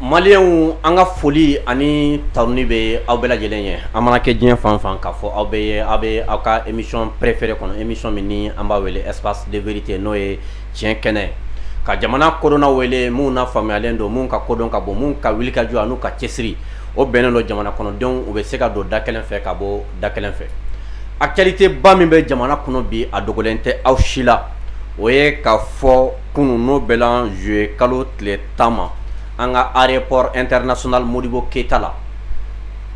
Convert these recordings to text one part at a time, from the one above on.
Maliyɛnw an ka foli ani tanuni bɛ aw bɛɛ lajɛlen ye an mana kɛ diɲɛ fan fan k'a fɔ aw bɛɛ ye aw bɛ aw ka émission préférée kɔnɔ émission min ni an b'a wele espace de vérité n'o ye tiɲɛ kɛnɛ ka jamana kodɔnnaw wele minnu na faamuyalen don minnu ka kodɔn ka bon minnu ka wulikajɔ n'u ka cɛsiri o bɛnnen don jamana kɔnɔdenw u bɛ se ka don da kelen fɛ ka bɔ da kelen fɛ actualité ba min bɛ jamana kɔnɔ bi a dogolen tɛ aw si la o ye k'a fɔ kunun n'o bɛnna juillet kalo tile tan ma an ka aéroport international Modibo Keyita la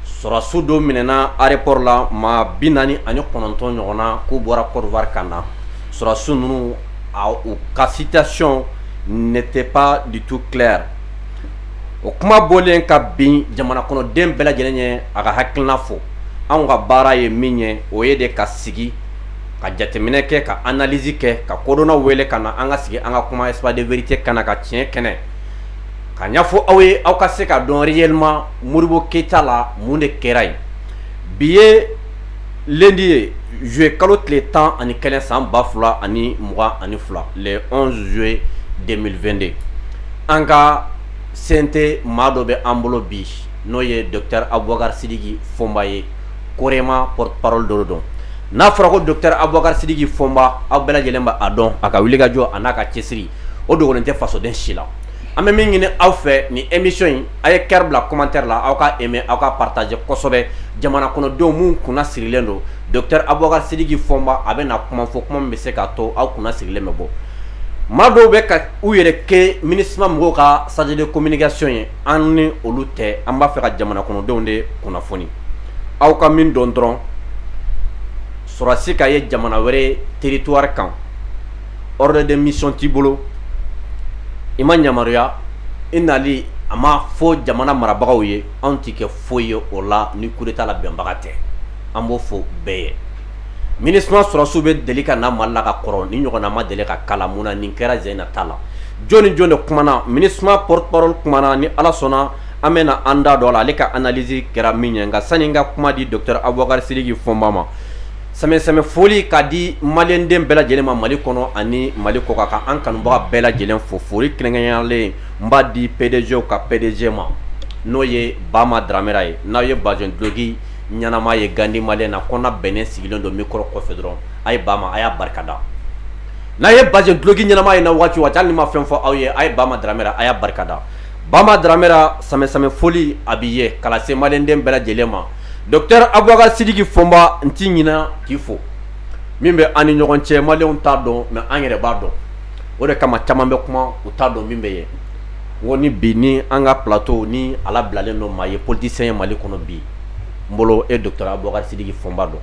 sɔrɔdasiw dɔ minɛna aéroport la maa bi naani ani kɔnɔntɔn ɲɔgɔn na k'u bɔra Côte d'Ivoire ka na sɔrɔdasiw ninnu u ka situation n'était pas du tout claire o kuma bɔlen ka bin jamana kɔnɔden bɛɛ lajɛlen ye a ka hakilina fɔ anw ka baara ye min ye o ye de ka sigi ka jateminɛ kɛ ka analyse kɛ ka kodɔnnaw wele ka na an ka sigi an ka kuma espace de vérité kan ka tiɲɛ kɛnɛ ka ɲɛfɔ aw ye aw ka se k'a dɔn réellement Modibo Keyita la mun de kɛra yen bi ye di ye z ye kalo tile tan ani kɛnɛ san ba fila ani mɔgɔ ani fila zoe de2de an ka sen tɛ maa dɔ bɛ an bolo bi n'o ye dɔta awakarisiri fɔmba ye koɔrima p pa dɔ dɔn n'a fɔra ko dɔta awakarisiri fɔmba aw bɛɛ lajɛlen' a dɔn a ka wuli kajɔ a n'a ka cɛsiri o dogolen tɛ fasoden si la an bɛ min ɲini aw fɛ ni émission in aw ye cœur bila commentaire la aw ka aimer aw ka partager kosɛbɛ jamana kɔnɔdenw minnu kunna sirilen don docteur Abubakari Sidiki Fɔnba a bɛ na kuma fɔ kuma min bɛ se k'a to aw kunna sirilen bɛ bɔ maa dɔw bɛ ka u yɛrɛ kɛ MINUSMA mɔgɔw ka chargé de communication ye an ni olu tɛ an b'a fɛ ka jamana kɔnɔdenw de kunnafoni aw ka min dɔn dɔrɔn sɔrɔdasi ka ye jamana wɛrɛ territoire kan ordre de mission t'i bolo i ma yamaruya i nali a ma fɔ jamana marabagaw ye anw t'i kɛ foyi ye o la ni coup d'Etat labɛnbaga tɛ an b'o fɔ bɛɛ ye MINUSMA sɔrɔdasiw bɛ deli ka na Mali la ka kɔrɔ nin ɲɔgɔnna ma deli ka k'a la mun na nin kɛra sen in na ta la jɔni ni jɔni de kumana MINUSMA porte parole kumana ni Ala sɔnna an bɛna an da don a la ale ka analyse kɛra min ye nka sani n ka kuma di docteur Abubakari Sidiki Fɔnba ma sɛmɛ foli k'a di maliyɛnden bɛɛ lajɛlen ma mali kɔnɔ ani mali kɔkan ka an kanubaga bɛɛ lajɛlen fo foli kɛrɛnkɛrɛnyalen n b'a di PDGw ka PDG ma n'o ye Bama Dramera ye n'aw ye bazɛn dulɔki ɲɛnama ye Gandi maliyɛn na ko bɛnnen sigilen don micro kɔfɛ dɔrɔn a ye Bama a y'a barika da n'a ye bazɛn dulɔki ɲɛnama ye n na waati o waati hali ni n ma fɛn fɔ aw ye a ye Bama Dramera a y'a barika da Bama Dramera sɛmɛ foli a b'i ye k'a lase maliyɛnden bɛɛ lajɛlen ma Docteur Aboubacar Sidiki Fomba n tɛ ɲina k'i fo min bɛ an ni ɲɔgɔn cɛ maliyɛnw t'a dɔn mais an yɛrɛ b'a dɔn o de kama caman bɛ kuma u t'a dɔn min bɛ yen ko ni bi ni an ka plateau ni ala bilalen don maa ye politicien ye mali kɔnɔ bi n bolo e docteur Aboubacar Sidiki Fomba don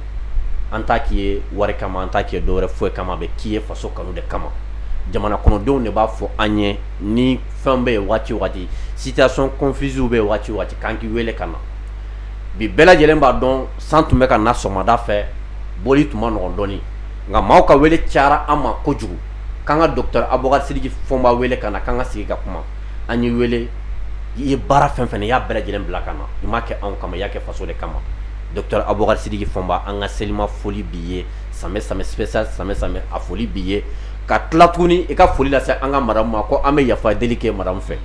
an t'a k'i ye wari kama an t'a k'i ye dɔwɛrɛ foyi kama a bɛ k'i ye faso kanu de kama jamana kɔnɔdenw de b'a fɔ an ye ni fɛn bɛ yen waati o waati situation confuse bɛ yen waati o waati k'an k'i weele ka na bi bɛɛ lajɛlen b'a dɔn san tun bɛ ka na sɔgɔmada fɛ boli tun ma nɔgɔ dɔɔni nka maaw ka wele cayara an ma kojugu k'an ka docteur Aboubacar Sidiki Fomba wele ka na k'an ka sigi ka kuma an y'i wele i ye baara fɛn fɛn i y'a bɛɛ lajɛlen bila ka na i m'a kɛ anw kama i y'a kɛ faso de kama docteur Aboubacar Sidiki Fomba an ka selima foli b'i ye samɛ samɛ spécial samɛ samɛ a foli b'i ye ka tila tuguni i ka foli lase an ka madamu ma ko an bɛ yafa deli kɛ madamu fɛ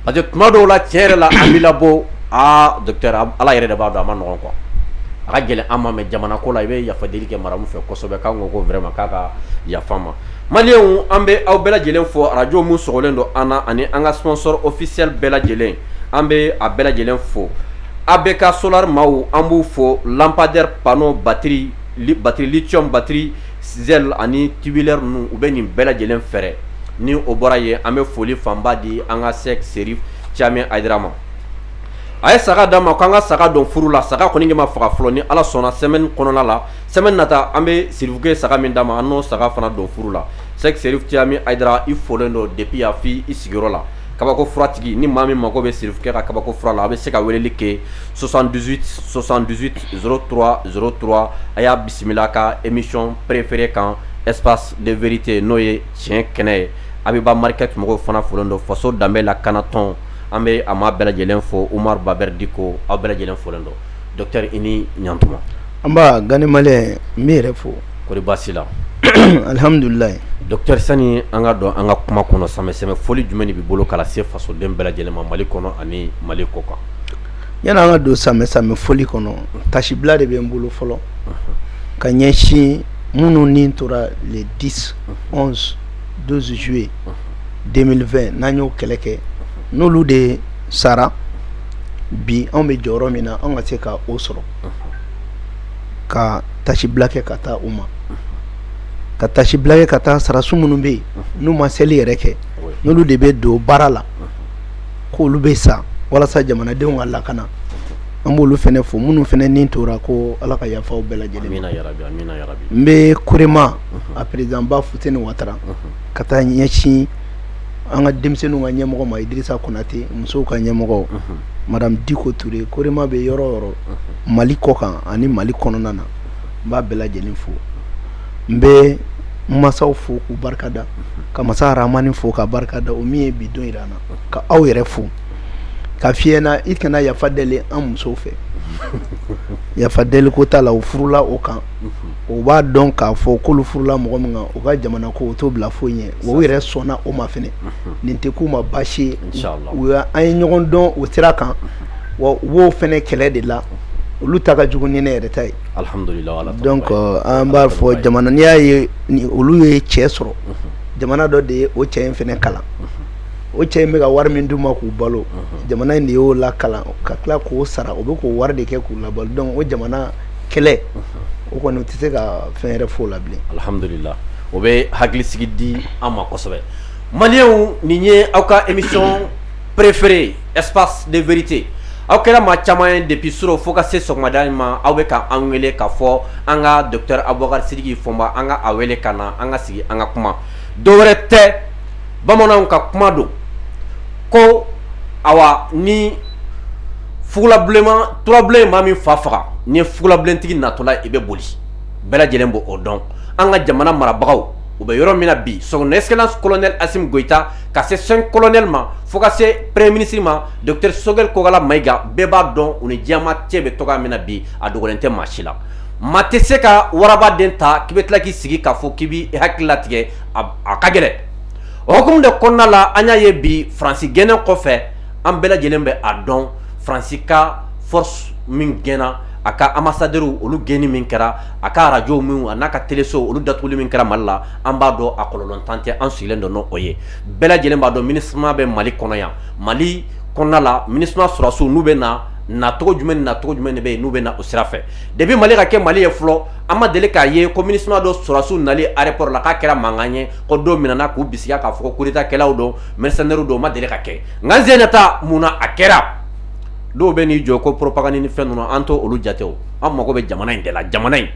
parce que tuma dɔw la tiɲɛ yɛrɛ la an b'i labɔ aa docteur ala yɛrɛ de b'a dɔn a ma nɔgɔ quoi a ka gɛlɛn an ma mais jamana ko la i bɛ yafa deli kɛ madamu fɛ kosɛbɛ k'an ko vraiment k'a ka yafa ma maliyɛnw an bɛ aw bɛɛ lajɛlen fo arajo minnu sɔgɔlen don an na ani an ka sponsor officiel bɛɛ lajɛlen an bɛ a bɛɛ lajɛlen fo ABK Solar maaw an b'u fo lampadaire panneau ba batterie lithium batterie Gel ani tubulaire ninnu u bɛ nin bɛɛ lajɛlen feere ni o bɔra yen an bɛ foli fanba di an ka Cheick Chérif Thiaman Haïdara ma a ye saga d'a ma k'an ka saga don furu la saga kɔni ma faga fɔlɔ ni ala sɔnna semaine kɔnɔna la semaine nata an bɛ sirifukɛ saga min d'a ma an n'o saga fana don furu la Cheick Chérif Thiaman Haïdara i folen don depuis yan f'i sigiyɔrɔ la kabako furatigi ni maa min mago bɛ sirifukɛ ka kabako fura la a bɛ se ka weleli kɛ 68 78 03 03 a y'a bisimila ka émission préférée kan espace de vérité n'o ye tiɲɛ kɛnɛ ye Abiba Market mɔgɔw fana folen don faso danbe lakana tɔn an bɛ a maa bɛɛ lajɛlen fo Oumar Baber Dicko aw bɛɛ lajɛlen folen don docteur i ni ɲantuma, anba Gandhi Malien n b'i yɛrɛ fo, kɔri baasi t'i la, alihamudulila, docteur sani an ka don an ka kuma kɔnɔ samɛ samɛ foli jumɛn de b'i bolo ka lase fasoden bɛɛ lajɛlen ma Mali kɔnɔ ani Mali kɔkan? yani an ka don samɛ samɛ foli kɔnɔ tasibila de bɛ n bolo fɔlɔ ka ɲɛsin minnu ni tora le 10, 11, 12 juillet 2020 n'an y'o kɛlɛ kɛ n'olu de sara bi anw bɛ jɔyɔrɔ min na an ka se ka o sɔrɔ ka tasibila kɛ ka taa u ma ka tasibila kɛ ka taa sɔrɔdasi minnu bɛ yen n'u ma seli yɛrɛ kɛ n'olu de bɛ don baara la ko olu bɛ sa walasa jamanadenw ka lakana an b'olu fana fo minnu fana ni tora ko ala ka yafa u bɛɛ lajɛlen n bɛ Corema a président ba Fousseyni Ouattara ka taa ɲɛsin an ka denmisɛnninw ka ɲɛmɔgɔ ma idirisa konatɛ musow ka ɲɛmɔgɔ madame diko ture korema bɛ yɔrɔ yɔrɔ mali kɔ kan ani mali kɔnɔna na n b'a bɛɛ lajɛlen fo n bɛ masaw fo k'u barikada ka masa ramani fo ka barika da o min ye bi don jira an na ka aw yɛrɛ fo ka fiɲɛ na i kana yafa deli an musow fɛ yafa deli ko t'a la u furula o kan o b'a dɔn k'a fɔ k'olu furula mɔgɔ min u ka jamana ko o t'o bila foyi ɲɛ wa u yɛrɛ sɔnna o ma fana nin tɛ k'u ma basi ye an ye ɲɔgɔn dɔn o sira kan wa u b'o fana kɛlɛ de la olu ta ka jugu ni ne yɛrɛ ta ye an b'a fɔ jamana n'i y'a ye olu ye cɛ sɔrɔ jamana dɔ de ye o cɛ in fana kalan o cɛ in bɛ ka wari min d'u ma k'u balo jamana in de y'o lakalan ka tila k'o sara u bɛ k'o wari de kɛ k'u labalo donc o jamana kɛlɛ o kɔni tɛ se ka fɛn yɛrɛ f'o la bilen alihamdulila o bɛ hakilisigi di an ma kosɛbɛ maliyɛnw nin ye aw ka émission préférée espace de vérité aw kɛra maa caman ye depuis suro fo ka se sɔgɔmada in ma aw bɛ ka an wele k'a fɔ an ka docteur abubakar sidiki fɔnba an ka a wele ka na an ka sigi an ka kuma dɔwɛrɛ tɛ bamananw ka kuma don ko awa ni fugulabilenman turabilen ye maa min fa faga n'i ye fugulabilentigi natɔla i bɛ boli bɛɛ lajɛlen b'o dɔn an ka jamana marabagaw u bɛ yɔrɔ min na bi son excellence colonel assimi goïta ka se cinq colonel ma fo ka se premier ministre ma docteur sogɛl kokala mayiga bɛɛ b'a dɔn u ni diɲɛmaa cɛ bɛ cogoya min na bi a dogolen tɛ maa si la maa tɛ se ka warabaden ta k'i bɛ tila k'i sigi k'a fɔ k'i b'i hakili latigɛ a ka gɛlɛn o hukumu de kɔnɔna la an y'a ye bi faransi gɛnnen kɔfɛ an bɛɛ lajɛlen bɛ a dɔn faransi ka force min gɛnna a ka ambassadeur olu gɛnni min kɛra a ka arajo minw an'a ka telesow olu datuguli min kɛra mali la an b'a dɔn a kɔlɔlɔntan tɛ an sigilen don n'o ye bɛɛ lajɛlen b'a dɔn minusma bɛ mali kɔnɔ yan mali kɔnɔna la minusma sɔrɔsiw n'u bɛ na nacogo jumɛn ni nacogo jumɛn de bɛ yen n'u bɛ na o sira fɛ depuis mali ka kɛ mali ye fɔlɔ an ma deli k'a ye ko minusma dɔ sɔrɔsiw nali aéroport la k'a kɛra mankan ye ko dɔw minɛna k'u bisigi k'a fɔ ko coup d'état kɛlaw don mercenaires don o ma deli ka kɛ nka sen in ta mun na a kɛra dɔw bɛ n'i jɔ ko propagande ni fɛn ninnu an t'olu jate an mago bɛ jamana in de la jamana in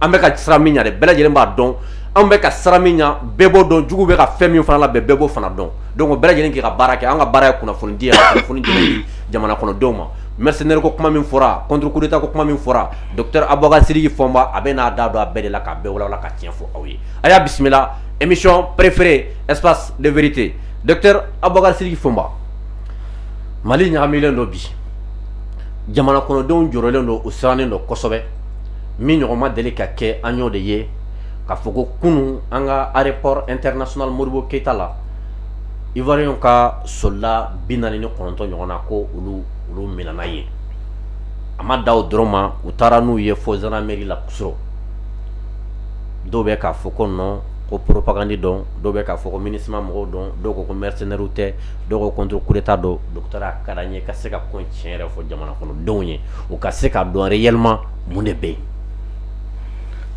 an bɛ ka siran min ɲɛ dɛ bɛɛ lajɛlen b'a dɔn an bɛ ka siran min ɲɛ bɛɛ b'o dɔn jugu bɛ ka fɛn min fana labɛn bɛɛ b'o fana dɔn donc bɛɛ lajɛlen k'i ka baara kɛ an ka baara ye kunnafoni di kunnafoni di jamana kɔnɔdenw ma mercenaire ko kuma min fɔra contre coup d'état ko kuma min fɔra docteur abubakar sidiki fɔnba a bɛ n'a da don a bɛɛ de la k'a bɛɛ walawala ka tiɲɛ fɔ aw ye a y'a bisimila émission préférée espace de vérité docteur Aboubacar Sidiki Fomba Mali ɲagaminen don bi jamana kɔnɔdenw jɔrɔlen don u sirannen don kosɛbɛ min ɲɔgɔn ma deli ka kɛ an y'o de ye ka fɔ ko kunun an ka aéroport international Modibo Keita la Ivoirien ka soldat bi naani ni kɔnɔntɔn ɲɔgɔn na ko olu olu minɛna yen a ma dan o dɔrɔn ma u taara n'u ye fo gendarmerie la Kusiro dɔw bɛ k'a fɔ ko non ko propagande don dɔw bɛ k'a fɔ ko MINUSMA mɔgɔw don dɔw ko ko mercenairew tɛ dɔw ko contre coup d'état don docteur a ka d'an ye ka se ka ko tiɲɛ yɛrɛ fɔ jamana kɔnɔdenw ye u ka se ka dɔn réellement mun de bɛ yen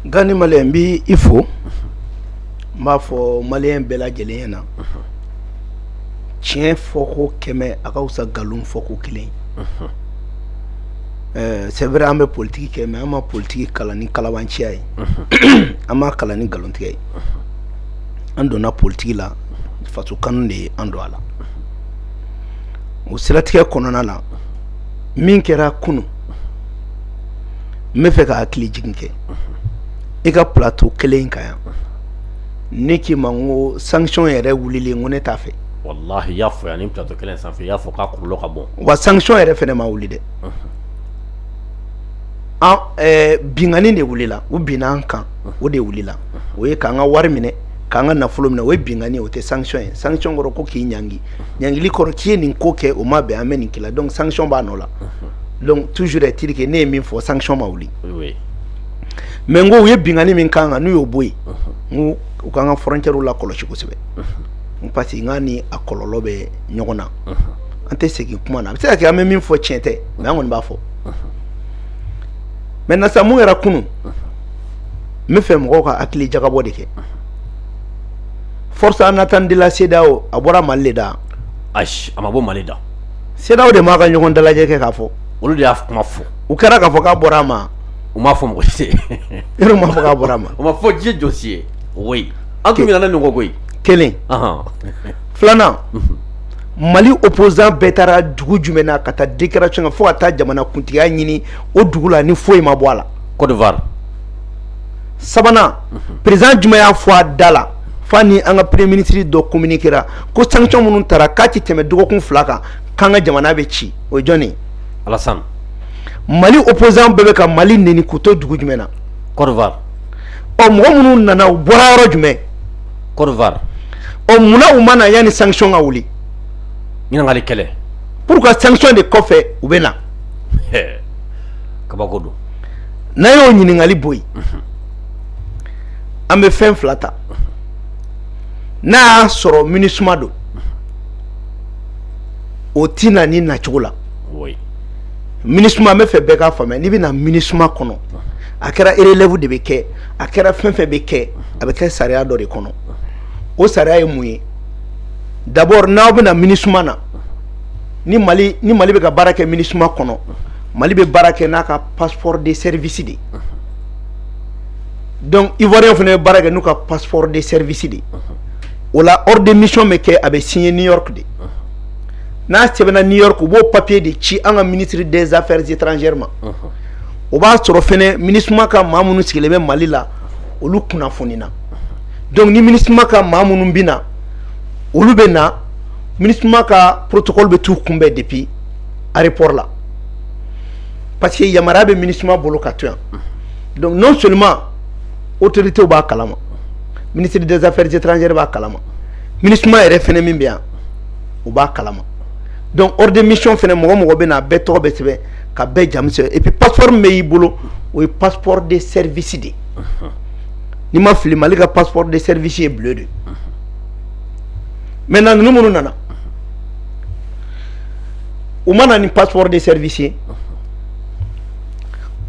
Gandhi Malien n bɛ i fo n b'a fɔ Malien bɛɛ lajɛlen ɲɛ na tiɲɛ fɔ ko kɛmɛ a ka wusa nkalon fɔ ko kelen c'est vrai an bɛ politigi kɛ mais an ma politigi kalan ni kalabanciya ye an m'a kalan ni nkalontigɛ ye an donna politigi la faso kanu de ye an don a la o siratigɛ kɔnɔna na min kɛra kunun n bɛ fɛ ka hakili jigin kɛ i ka plateau kelen in kan yan ne k'i ma ko sanction yɛrɛ wulili ko ne t'a fɛ wallahi y'a fɔ yan nin plateau kelen sanfɛ y'a fɔ k'a kɔlɔlɔ ka bon wa sanction yɛrɛ fana ma wuli dɛ binkanni de wulila u binna an kan o de wulila o ye k'an ka wari minɛ k'an ka nafolo minɛ o ye binkanni o tɛ sanction ye sanction kɔrɔ ko k'i ɲangi ɲangili kɔrɔ k'i ye nin ko kɛ o ma bɛn an bɛ nin k'i la donc sanction b'a nɔ la toujours est-il que ne ye min fɔ sanction ma wuli mais n ko u ye binkanni min k'an kan n'u y'o bɔ yen u k'an ka frontièrew lakɔlɔsi kosɛbɛ parce que n k'a ni a kɔlɔlɔ bɛ ɲɔgɔn na an tɛ segin kuma na a bɛ se ka kɛ an bɛ min fɔ cɛn tɛ mais an kɔni b'a fɔ maintenant sa mun kɛra kunun n bɛ fɛ mɔgɔw ka hakili jagabɔ de kɛ force en attente de la CEDEAO a bɔra Mali da a ma bɔ Mali da CEDEAO de m'a ka ɲɔgɔn dalajɛ kɛ k'a fɔ olu de y'a kuma fɔ u kɛra k'a fɔ k'a bɔra a ma u m'a fɔ mɔgɔ si yɛrɛ m'a fɔ k'a bɔra a ma u m'a fɔ diɲɛ jɔn si ye oui an tun ɲinɛna nin kɔ koyi kelen filanan Mali opposant bɛɛ taara dugu jumɛn na ka taa déclaration fo ka taa jamanakuntigiya ɲini o dugu la ni foyi ma bɔ a la Côte d'Ivoire sabanan président jumɛn y'a fɔ a da la fa ni an ka premier ministre dɔ communiquéra ko sanction minnu tara k'a tɛ tɛmɛ dɔgɔkun fila kan k'an ka jamana bɛ ci o ye jɔn ye Alassane Mali opposant bɛɛ bɛ ka Mali neni k'u to dugu jumɛn na Côte d'Ivoire ɔ mɔgɔ minnu nana u bɔra yɔrɔ jumɛn ɔ munna u ma na yanni sanction ka wuli ɲininkakali kɛlɛ pourquoi sanction de kɔfɛ u bɛ na kabako don n'an y'o ɲininkakali bɔ yen an bɛ fɛn fila ta n'a y'a sɔrɔ MINUSMA don o tɛ na nin nacogo la MINUSMA n b'a fɛ bɛɛ k'a faamuya n'i bɛ na MINUSMA kɔnɔ a kɛra relève de bɛ kɛ a kɛra fɛn fɛn bɛ kɛ a bɛ kɛ sariya dɔ de kɔnɔ o sariya ye mun ye d'abord n'aw bɛ na MINUSMA na ni mali ni mali bɛ ka baara kɛ MINUSMA kɔnɔ mali bɛ baara kɛ n'a ka passeport de service de donc ivoirien fana bɛ baara kɛ n'u ka passeport de service de o la ordre de mission bɛ kɛ a bɛ signer new york de n'a sɛbɛnna new york u b'o papier de ci an ka ministre des affaires étrangères ma. o b'a sɔrɔ fana MINUSMA ka maa minnu sigilen bɛ mali la olu kunnafonina donc ni MINUSMA ka maa minnu bɛ na olu bɛ na MINUSMA ka protocole bɛ t'u kunbɛn depuis aéroport la parce que yamaruya bɛ MINUSMA bolo ka to yan donc non seulement autoritéw b'a kalama ministre des affaires étrangères b'a kalama MINUSMA yɛrɛ fana min bɛ yan o b'a kalama donc ordre de mission fana mɔgɔ mɔgɔ bɛ na a bɛɛ tɔgɔ bɛ sɛbɛn ka bɛɛ jamu sɛbɛn et puis passeport min bɛ i bolo o ye passeport de service de n'i ma fili Mali ka passeport de service ye bleu de maintenant ninnu minnu nana u ma na ni passeport de service ye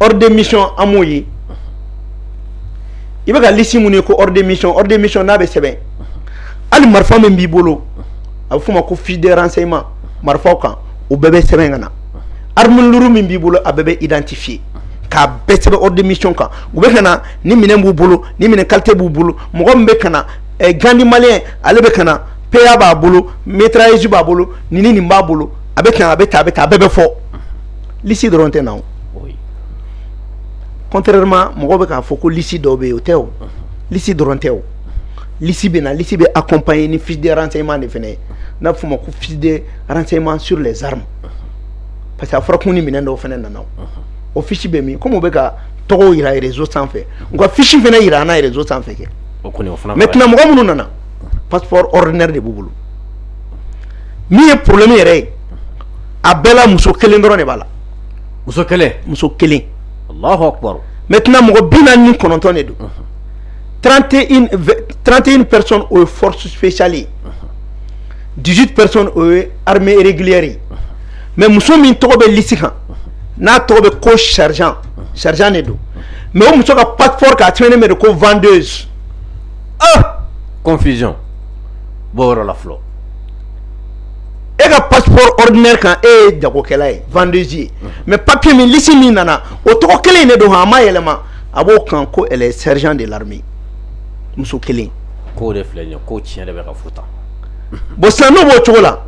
ordre de mission an m'o ye i bɛ ka liste minnu ye ko ordre de mission ordre de mission n'a bɛ sɛbɛn hali marifa min b'i bolo a bɛ f'o ma ko fiche de renseignement marifaw kan o bɛɛ bɛ sɛbɛn ka na. arme lourd min b'i bolo a bɛɛ bɛ identifier k'a bɛɛ sɛbɛn ordre de mission kan u bɛ ka na nin minɛn b'u bolo nin minɛn qualité b'u bolo mɔgɔ min bɛ ka na Gandhi Malien ale bɛ ka na PA b'a bolo mitrailleuse b'a bolo ni ni nin b'a bolo a bɛ a bɛ tan a bɛ tan a bɛɛ bɛ fɔ liste dɔrɔn tɛ na contrairement mɔgɔ bɛ k'a fɔ ko liste dɔ bɛ yen o tɛ o liste dɔrɔn tɛ o liste bɛ na liste bɛ accompagner ni fiche de renseignement de fana ye n'a bɛ f'o ma ko fiche de renseignement sur les armes parce que a fɔra kun ni minɛn dɔw fana nana o fisi bɛ min kɔmi bɛ ka tɔgɔ jira yɛrɛzo sanfɛ nka fisi fana jira an yɛrɛzo sanfɛ kɛ mɛ tmɔgɔ minnu nana pap de b'u bolo min ye porolenmi yɛrɛ ye a bɛɛ muso kelen dɔrɔn de b'a la muso kelen muso kelen mɛ tɛna mɔgɔ bi naani ni kɔnɔntɔn de don trante in pɛrez o ye forotu fecli ye 18 personnes o ye armée régulière ye mais muso min tɔgɔ bɛ liste kan n'a tɔgɔ bɛ ko sergent sergent de don mais o muso ka passeport kan a sɛbɛnnen bɛ de ko vendeuse ah confusion bɔ yɔrɔ la fɔlɔ e ka passeport ordinaire kan e ye jagokɛla ye vendeuse ye mais papier min liste min nana o tɔgɔ kelen in de don han a ma yɛlɛma a b'o kan ko elle est sergent de l'armée muso kelen ko de filɛ nin ye ko tiɲɛ de bɛ ka fɔ tan bon sisan n'o b'o cogo la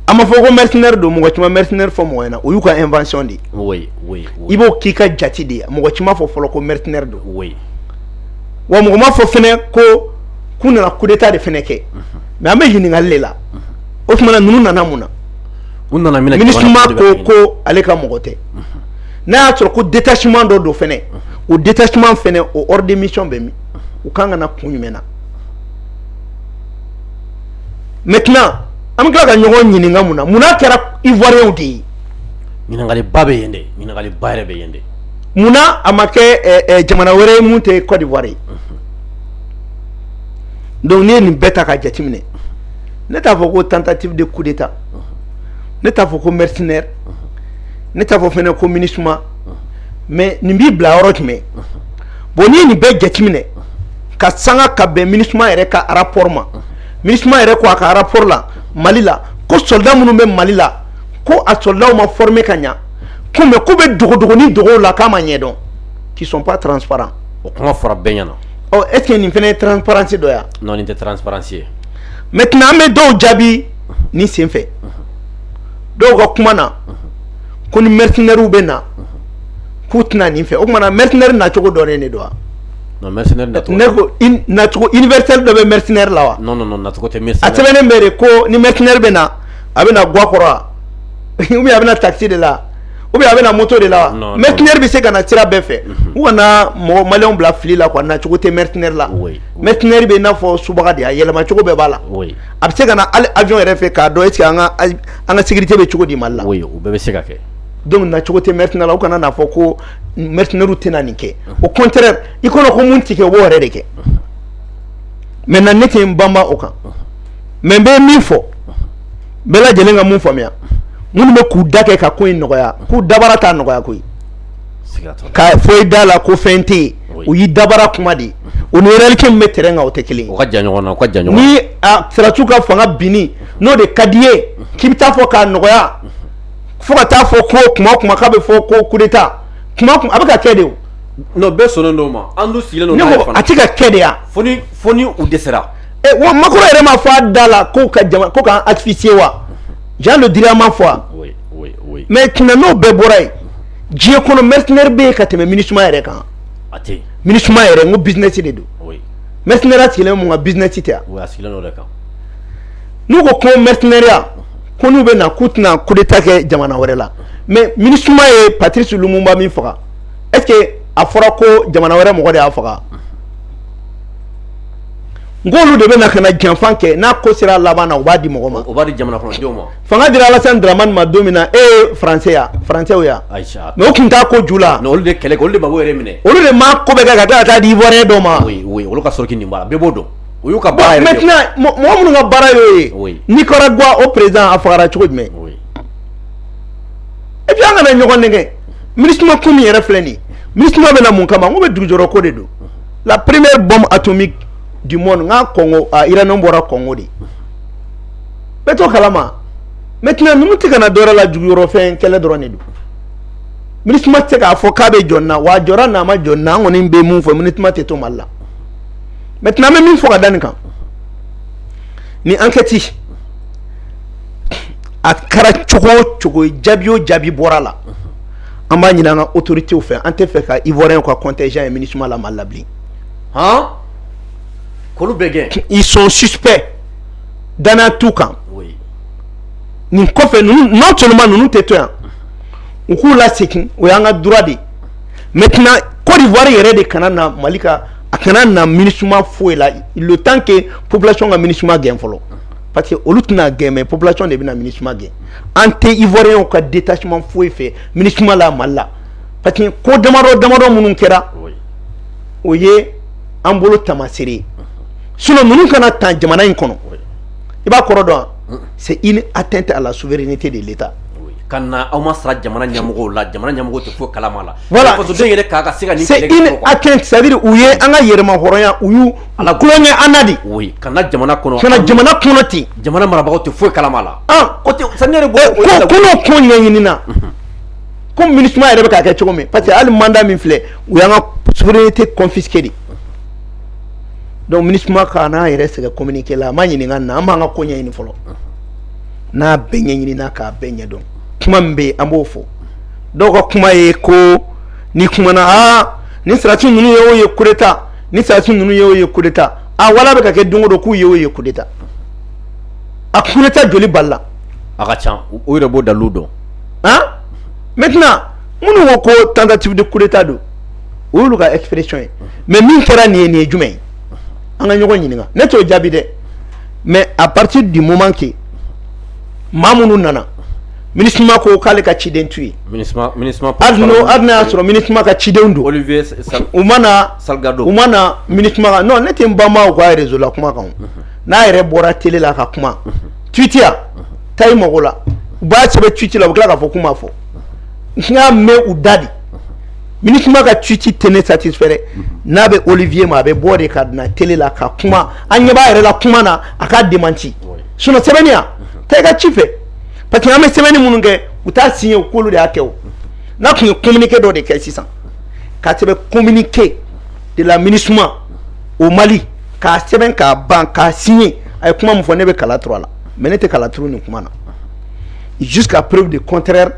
a ma fɔ ko mercenaire don mɔgɔ si ma mercenaire fɔ mɔgɔ ɲɛna o y'u ka invention de ye i b'o k'i ka jate de ye mɔgɔ si m'a fɔ fɔlɔ ko mercenaire don wa mɔgɔ m'a fɔ fana ko k'u nana coup d'état de fana kɛ mais an bɛ ɲininkali le la o tuma na ninnu nana mun na MINUSMA ko ale ka mɔgɔ tɛ n'a y'a sɔrɔ ko détachement dɔ don fana o détachement fana o ordre de mission bɛ min u ka kan ka na kun jumɛn na maintenant an bɛ tila ka ɲɔgɔn ɲininka mun na mun na a kɛra ivoirienw de ye ɲininkali ba bɛ yen dɛ ɲininkali ba yɛrɛ bɛ yen dɛ munna a ma kɛ jamana wɛrɛ ye mun tɛ Côte d'Ivoire ye donc n'i ye nin bɛɛ ta ka jateminɛ ne t'a fɔ ko tentative de coup d'état ne t'a fɔ ko mercenaire ne t'a fɔ fana ko MINUSMA mais nin b'i bila yɔrɔ jumɛn bon n'i ye nin bɛɛ jateminɛ ka sanga ka bɛn MINUSMA yɛrɛ ka rapport ma MINUSMA yɛrɛ ko a ka rapport la mali la ko soldat minnu bɛ mali la ko a soldatw ma former ka ɲɛ ko mais k'u bɛ dogodogonin dogow la k'a ma ɲɛdɔn qui sont pas transparents o kuma fɔra bɛɛ ɲɛna est ce que nin fana ye transparence dɔ ye wa non nin tɛ transparence ye maintenant an bɛ dɔw jaabi nin senfɛ dɔw ka kuma na ko ni mercenairew bɛ na k'u tɛna nin fɛ o tuma na mercenaire nacogo dɔnnen de don wa Ko dɔ bɛre la sɛbɛn bɛ ko ni mɛre bɛ na a bɛ na ga kɔrɔ a bɛ tati de la a bɛ moto de la mɛ tinare bɛ se ka na sira bɛɛ fɛ u kana mɔgɔ ma bila fili la a nacogo tɛ mɛre la mɛ tinare bɛ n'a fɔ su de a yɛlɛmacogo bɛɛ b'a la a bɛ se ka ali ajɔn yɛrɛ fɛ k'a dɔn e sigi an ka sigi tɛ bɛ cogo di ma la bɛ se ka kɛ don nacogo tɛ mɛre la u kana fɔ ko mercenairew tɛna nin kɛ au contraire i kɔnɔ ko mun tɛ kɛ u b'o yɛrɛ de kɛ maintenant ne tɛ n banba o kan mais n bɛ min fɔ bɛɛ lajɛlen ka mun faamuya minnu bɛ k'u da kɛ ka ko in nɔgɔya k'u dabara t'a nɔgɔya koyi k'a fɔ i da la ko fɛn tɛ yen o y'i dabara kuma de ye o ni réalité min bɛ terrain kan o tɛ kelen ye ni sɔrɔdasiw ka fanga binni n'o de ka di i ye k'i bɛ taa fɔ k'a nɔgɔya fo ka taa fɔ ko kuma o kuma k'a bɛ fɔ ko coup d'Etat kuma a bɛ ka kɛ de o non bɛɛ sɔnnen don ma an dun sigilen don n'a ye fana a tɛ ka kɛ de yan fo ni fo ni u dɛsɛra ɛ wa Macron yɛrɛ m'a fɔ a da la ko ka jama ko k'an asphyxier wa Jean Le Drian m'a fɔ a oui oui oui maintenant n'o bɛɛ bɔra yen diɲɛ kɔnɔ mercenaire bɛ yen ka tɛmɛ Minusma yɛrɛ kan a tɛ yen Minusma yɛrɛ n ko business de don oui mercenaire sigilen bɛ mun kan business tɛ yan oui a sigilen don o de kan n'u ko ko mercenaire ko n'u bɛ na k'u tɛna coup d'Etat kɛ jamana wɛrɛ la mais Minusma ye Patrice Lumumba min faga est-ce que a fɔra ko jamana wɛrɛ mɔgɔ de y'a faga n k'olu de bɛ na ka na janfa kɛ n'a ko sera a laban na u b'a di mɔgɔ ma o b'a di jamana kɔnɔdenw ma fanga dira Alassane Dramane ma don min na e ye français ye françaisw ye ayi sa mais u tun t'a ko ju la non olu de kɛlɛ kɛ olu de Gbagbo yɛrɛ minɛ olu de m'a ko bɛɛ kɛ ka tila ka taa di ivoirien dɔ ma oui oui olu ka sɔrɔ k'i nin b'a la bɛɛ b'o dɔn o y'u ka baara yɛrɛ de ye, bon maintenant mɔ- mɔgɔ minnu ka baara y'o ye Oui. Nicaragua o président a fagara cogo jumɛn Oui. et puis an kana ɲɔgɔn nɛgɛ Minusma ko min yɛrɛ filɛ nin ye Minusma bɛ na mun kama n ko bɛɛ dugujukɔrɔ ko de don la première bombe atomique du monde nka Congo a uranium bɔra Congo de bɛɛ t'o kalama maintenant ninnu tɛ ka na dɔwɛrɛ la dugujukɔrɔfɛn kɛlɛ dɔrɔn de don Minusma tɛ k'a fɔ k'a bɛ jɔ nin na wa a jɔra n'a ma jɔ nin na an kɔni bɛ mun fɔ Minusma tɛ to Mali la maintenant an bɛ min fɔ ka da nin kan ni enquête a kɛra cogo o cogo jaabi o jaabi bɔra la an b'a ɲini an ka autoritéw fɛ an t'a fɛ ka ivoirienw ka contingent ye Minusma la Mali la bilen han k'olu bɛɛ gɛn ils sont suspects danaya t'u kan nin kɔfɛ ninnu non seulement ninnu tɛ to yan u k'u lasegin o y'an ka droit de ye maintenant Côte d'Ivoire yɛrɛ de kana na Mali ka a kana na Minusma foyi la le temps que population ka Minusma gɛn fɔlɔ parce que olu tɛn'a gɛn mais population de bɛna Minusma gɛn an tɛ ivoirienw ka détachement foyi fɛ Minusma la Mali la parce que ko damadɔ damadɔ minnu kɛra o ye an bolo taamaseere ye sinon ninnu ka na tan jamana in kɔnɔ i b'a kɔrɔ dɔn wa c'est une atteinte à la souveraineté de l'État ka na aw ma sara jamana ɲɛmɔgɔw la jamana ɲɛmɔgɔw tɛ foyi kala la voilà fasoden yɛrɛ k'a ka se ka c'est à dire u ye an ka yɛrɛmahɔrɔnya u y'u kolon kɛ an na de ka na jamana kɔnɔ ten jamana marabagaw tɛ foyi kala la ko n'o ko ɲɛɲinina ko Minusma yɛrɛ bɛ ka kɛ cogo min parce que hali mandat min filɛ u y'an ka souveraineté confisquer de donc Minusma kana a yɛrɛ sɛgɛn communiqué la a ma ɲininka nin na an b'an ka ko ɲɛɲini fɔlɔ n'a bɛɛ ɲɛɲinina k'a bɛɛ ɲɛ dɔn kuma min bɛ yen an b'o fɔ dɔw ka kuma ye ko ni kumana aa ni sarasi ninnu ye o ye kudeta ni sarasi ninnu ye o ye kudeta a wala bɛ ka kɛ don o don k'u ye o ye kudeta a kudeta joli balila a ka ca o yɛrɛ b'o dalilu dɔn an maintenant minnu ko ko tentative de coup d'état don o y'olu ka expression ye mais min kɛra nin ye nin ye jumɛn ye an ka ɲɔgɔn ɲininka ne t'o jaabi dɛ mais à partir du moment que maa minnu nana MINUSMA ko k'ale ka ciden t'u ye hali n'a y'a sɔrɔ MINUSMA ka ciden don u ma na sa u ma na MINUSMA kan non ne tɛ n banba u ka réseau la kuma kan n'a yɛrɛ bɔra télé la ka kuma tweet ya taa i mako la u b'a sɛbɛn tweet la u bɛ tila k'a fɔ k'u m'a fɔ n y'a mɛn u da de MINUSMA ka tweet tɛ ne satisfait n'a bɛ Olivier ma a bɛ bɔ de ka na télé la ka kuma an ɲɛ b'a yɛrɛ la kuma na a k'a démentir sinon sɛbɛnni ya taa i ka ci fɛ parce que an bɛ sɛbɛnni minnu kɛ u t'a signer k'olu de y'a kɛ o n'a tun ye communiqué dɔ de kɛ sisan k'a sɛbɛn communiqué de la MINUSMA au Mali k'a sɛbɛn k'a ban k'a signer a ye kuma min fɔ ne bɛ kala turu a la mais ne tɛ kala turu nin kuma na jusqu'à preuve du contraire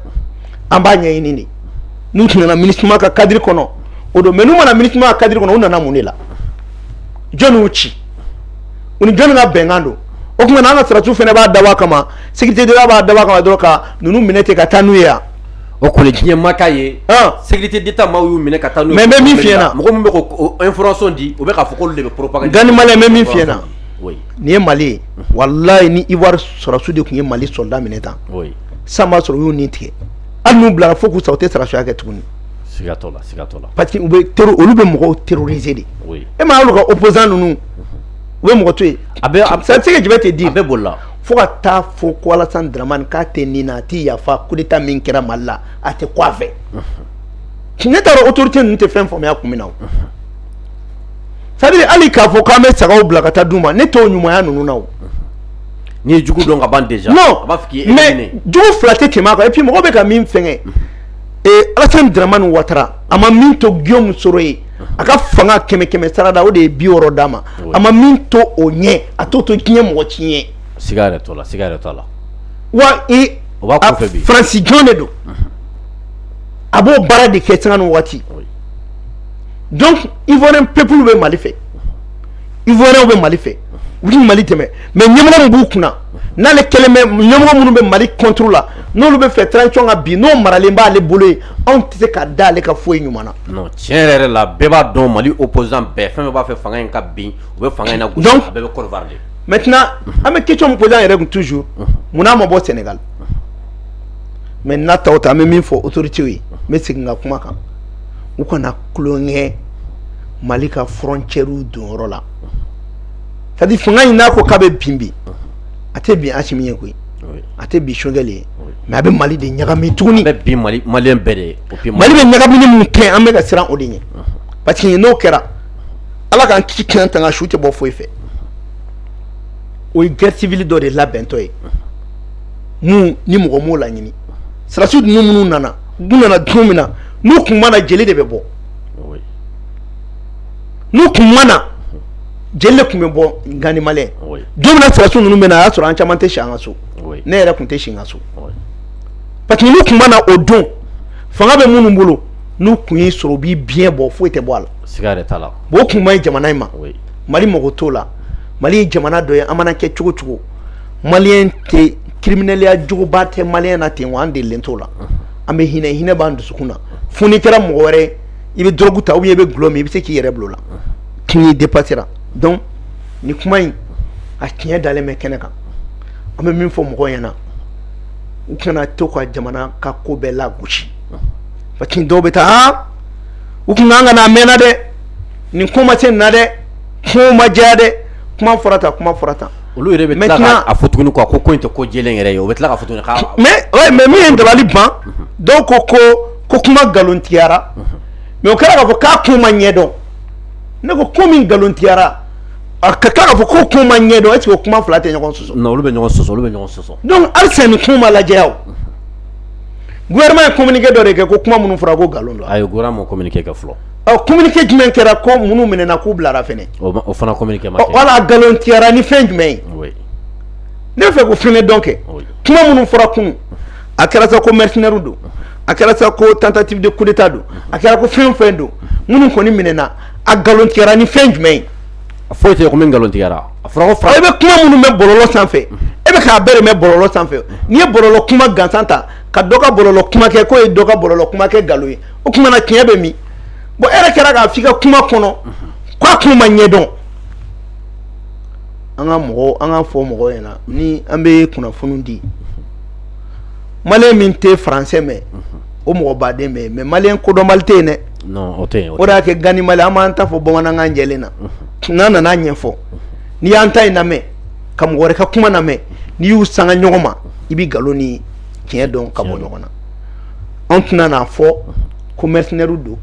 an b'a ɲɛɲini de n'u tun nana MINUSMA ka cadre kɔnɔ o don mais n'u ma na MINUSMA ka cadre kɔnɔ u nana mun de la jɔni y'u ci u ni jɔni ka bɛnkan don o tuma na an ka sarasiw fana b'a dabɔ kama sécurité d'état b'a dabɔ kama dɔrɔn ka ninnu minɛ ten ka taa n'u ye yan o kɔni diɲɛ ma k'a ye sécurité d'état maaw y'u minɛ ka taa n'u ye mais n bɛ min f'i ɲɛna mɔgɔ min bɛ k'o information di o bɛ k'a fɔ k'olu de bɛ propagande gani maliyɛn n bɛ min f'i ɲɛna nin ye mali ye walayi ni ivoire sɔrɔsiw de tun ye mali soldat minɛ tan sisan b'a sɔrɔ u y'u ni tigɛ hali n'u bilara fo k'u sa u tɛ sarasiya kɛ tuguni parce que olu bɛ mɔgɔw terroriser de e m'a y'olu ka opposant ninnu u bɛ mɔgɔ to yen c'est ce que je vais te dire a bɛɛ bolila fo ka taa fɔ k'Alasani Daramani k'a tɛ nin na a tɛ yafa coup d'état min kɛra mali la a tɛ ko a fɛ ne t'a dɔn autorité ninnu tɛ fɛn faamuya kun min na c'est-à-dire hali k'a fɔ k'an bɛ sagaw bila ka taa d' u ma ne t'o ɲumanya ninnu na N'i ye jugu dɔn ka ban déjà non a b'a fɔ k'i ye mais éliminé jugu fila tɛ tɛmɛ a kan et puis mɔgɔw bɛ ka min fɛngɛ ee Alasani Daramani Watara a ma min to Guillaume Soro ye a ka fanga kɛmɛ kɛmɛ sarada o de ye bi wɔɔrɔ d'a ma a ma min to o ɲɛ a t'o to diɲɛ mɔgɔ si ɲɛ siga yɛrɛ t'o la siga yɛrɛ t'a la wa i o b'a kɔfɛ bi Faransi jɔn de don a b'o baara de kɛ sanga ni waati donc Ivoirien peuple bɛ Mali fɛ ivoirienw bɛ mali fɛ u bɛ mali dɛmɛ mais ɲɛmɔgɔ min b'u kunna n'ale kɛlen bɛ ɲɛmɔgɔ minnu bɛ mali contre la n'olu bɛ fɛ transition ka bin n'o maralen b'ale bolo ye anw tɛ se ka da ale ka foyi ɲuman na tiɲɛ yɛrɛ la bɛɛ b'a dɔn mali opposant bɛɛ fɛn bɛɛ b'a fɛ fanga in ka bin u bɛ fanga in nagosi a bɛɛ bɛ côte d'ivoire de maintenant an bɛ question min poser an yɛrɛ kun toujours munna a ma bɔ sénégal mais n'a ta o ta an bɛ min fɔ autoritéw ye n bɛ segin ka kuma kan u kana tulonkɛ mali ka frontière donyɔrɔ la c'est à dire fanga in n'a ko k'a bɛ bin bi a tɛ bin asimi ye koyi a tɛ bin choguel ye mais a bɛ mali de ɲagami tuguni a bɛ bin malien bɛɛ de ye mali bɛ ɲagamini min kɛ an bɛ ka siran o de ɲɛ parce que n'o kɛra ala k'an kisi k'an tanga su tɛ bɔ foyi fɛ o ye guerre civile dɔ de labɛntɔ ye min ni mɔgɔ m'o laɲini sɔrɔdasiw ninnu minnu nana u nana don min na n'u tun ma na jeli de bɛ bɔ n'u tun ma na jeli de tun bɛ bɔ ganima don min na sɔrɔdasiw ninnu bɛ na a y'a sɔrɔ an caman tɛ si an ka so ne yɛrɛ tun tɛ si n ka so parce que n'u tun ma na o don fanga bɛ minnu bolo n'u tun y'i sɔrɔ u b'i biɲɛ bɔ foyi tɛ bɔ a la bon o tun man ɲi jamana in ma mali mago t'o la mali ye jamana dɔ ye an mana kɛ cogo cogo malien tɛ kiriminɛliya juguba tɛ malien na ten wa an delilen t'o la an bɛ hinɛ hinɛ b'an dusukun na fo n'i kɛra mɔgɔ wɛrɛ i bɛ dɔrɔgu ta ou bien i bɛ dulɔ min i bɛ se k'i yɛrɛ bila o la kin y'i dépasser ra donc nin kuma in a tiɲɛ dalen bɛ kɛnɛ kan an bɛ min fɔ mɔgɔw ɲɛna u kana to ka jamana ka ko bɛɛ lagosi parce que dɔw bɛ taa han u tun kan ka na a mɛnna dɛ nin ko ma se nin na dɛ kuma ma jɛya dɛ kuma fɔra tan kuma fɔra tan olu yɛrɛ bɛ tila ka a fɔ tuguni quoi ko ko in tɛ ko jɛlen yɛrɛ ye u bɛ tila k'a fɔ tuguni ka mais ouais mais min ye dabali ban dɔw ko ko ko kuma nkalontigiyara mais o kɛra k'a fɔ k'a kun ma ɲɛdɔn ne ko ko min nkalontigiyara a ka kan k'a fɔ ko kun ma ɲɛdɔn est-ce que o kuma fila tɛ ɲɔgɔn sɔsɔ olu bɛ ɲɔgɔn sɔsɔ olu bɛ ɲɔgɔn sɔsɔ donc halisa nin kuma lajɛya o gouvernement ye communiqué dɔ de kɛ ko kuma minnu fɔra ko nkalon don ayi gouvernement ma communiqué kɛ fɔlɔ ɔ communiqué jumɛn kɛra ko minnu minɛna k'u bilara fɛnɛ o fana communiqué ma kɛ wala nkalontigiyara ni fɛn jumɛn ye ne bɛ fɛ k'o fɛnɛ dɔn kɛ kuma minnu fɔra kunu a kɛra sa ko mercenairew don a kɛra sa ko tentative de coup d'état don a kɛra ko fɛn fɛn don minnu kɔni minɛna a nkalontigiyara ni fɛn jumɛn ye a foyi tɛ min nkalontigiyara a e bɛ kuma minnu bɛ bɔlɔlɔ sanfɛ e bɛ k'a bɛɛ de mɛn bɔlɔlɔ sanfɛ n'i ye bɔlɔlɔ kuma gansan ta ka dɔ ka bɔlɔlɔ kuma kɛ k'o ye dɔ ka bɔlɔlɔ kuma kɛ nkalon ye o tuma na tiɲɛ bɛ min bon e yɛrɛ kɛra k'a fɔ i ka kuma kɔnɔ k'a kun ma ɲɛdɔn an ka mɔgɔ an ka fɔ mɔgɔ ɲɛna na ni an bɛ kunnafoni di malien min tɛ faransɛ mɛn o mɔgɔba tɛ mais malien kodɔnba tɛ yen dɛ o y'a kɛ gan mali an b'an ta fɔ bamanankan jɛlen na n'an nan'a ɲɛfɔ n'i y'an ta in lamɛn ka mɔgɔ wɛrɛ ka kuma lamɛn n'i y'u sanga ɲɔgɔn ma i bɛ nkalon ni tiɲɛ dɔn ka bɔ ɲɔgɔn na an tɛna n'a fɔ ko mercenaire don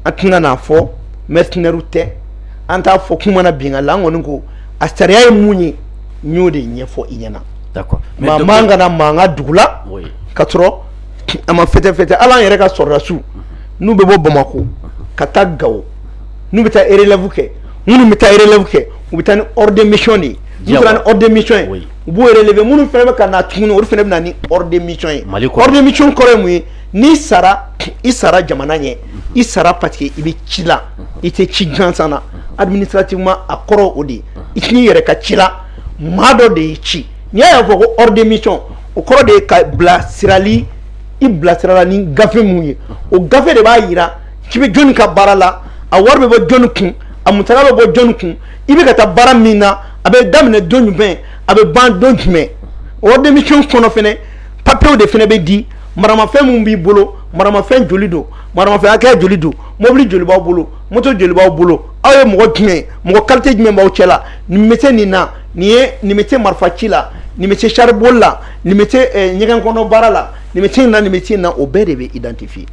an tɛna n'a fɔ mercenaire tɛ an t'a fɔ k'u ma na binka la an kɔni ko a sariya ye mun ye n y'o de ɲɛfɔ i ɲɛna mais an kana mankan dugu la ka sɔrɔ a ma fɛsɛfɛsɛ hali an yɛrɛ ka sɔrɔdasiw n'u bɛ bɔ bamakɔ ka taa gawo n'u bɛ taa relève kɛ minnu bɛ taa relève kɛ u bɛ taa ni ordre de mission de ye taara ni ordre de mission ye u b'u relever minnu fana bɛ ka na tuguni olu fana bɛ na ni ordre de mission ye ordre de mission kɔrɔ ye mun ye n'i sara i sara jamana ɲɛ i sara parce que i bɛ ci la i tɛ ci gansan na administrativement a kɔrɔ o de ye i t'i yɛrɛ ka ci la maa dɔ de y'i ci n'i y'a y'a fɔ ko ordre de mission o kɔrɔ de ye ka bilasirali i bilasirala ni gafe min ye o gafe de b'a jira k'i bɛ jɔnni ka baara la a wari bɛ bɔ jɔnni kun a musaka bɛ bɔ jɔnni kun i bɛ ka taa baara min na a bɛ daminɛ don jumɛn a bɛ ban don jumɛn o ordre de mission kɔnɔ fɛnɛ papiye o de fɛnɛ bɛ di maramafɛn min b'i bolo maramafɛn joli don maramafɛn hakɛya joli don mobili joli b'a bolo moto joli b'aw bolo aw ye mɔgɔ jumɛn ye mɔgɔ kalite jumɛn b'aw cɛ la nin bɛ se nin na nin ye nin bɛ se marifa ci la nin bɛ se sari boli la nin bɛ se eh, ɲɛgɛn kɔnɔ baara la nin bɛ se nin na nin bɛ se nin na o bɛɛ de bɛ identifier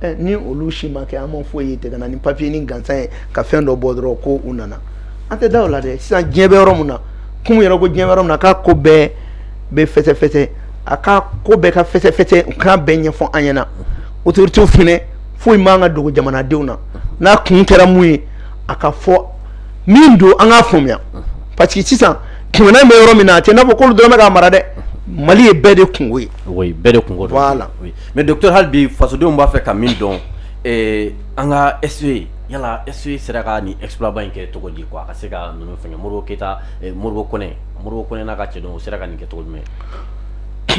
eh, ni olu si ma kɛ an ma foyi ye ten ka na ni papiyenin gansan ye ka fɛn dɔ bɔ dɔrɔn ko u nana an tɛ da o la dɛ sisan diɲɛ bɛ yɔrɔ min na komi i yɛrɛ ko diɲɛ bɛ yɔrɔ min na k'a ko bɛɛ bɛ fɛsɛfɛsɛ a ka ko bɛɛ ka fɛsɛfɛsɛ u k'a bɛɛ ɲɛfɔ an ɲɛna autorités fɛnɛ foyi man ka dogo jamanadenw na n'a kun kɛra mun ye a ka fɔ min don an k'a faamuya parce que sisan ko nalen bɛ yɔrɔ min na an tɛn'a fɔ k'olu dɔrɔn bɛ k'a mara dɛ mali ye bɛɛ de kunko ye oui bɛɛ de kunko don voilà oui. mais docteur hali bi fasodenw b'a fɛ ka min dɔn eh, an ka SE yala SE sera ka nin exploit ba in kɛ cogo di quoi a ka se ka ninnu fɛngɛ Modibo Keyita eh, Modibo Konɛ Modibo Konɛ n'a ka cɛdenw u sera ka nin kɛ cogo jumɛn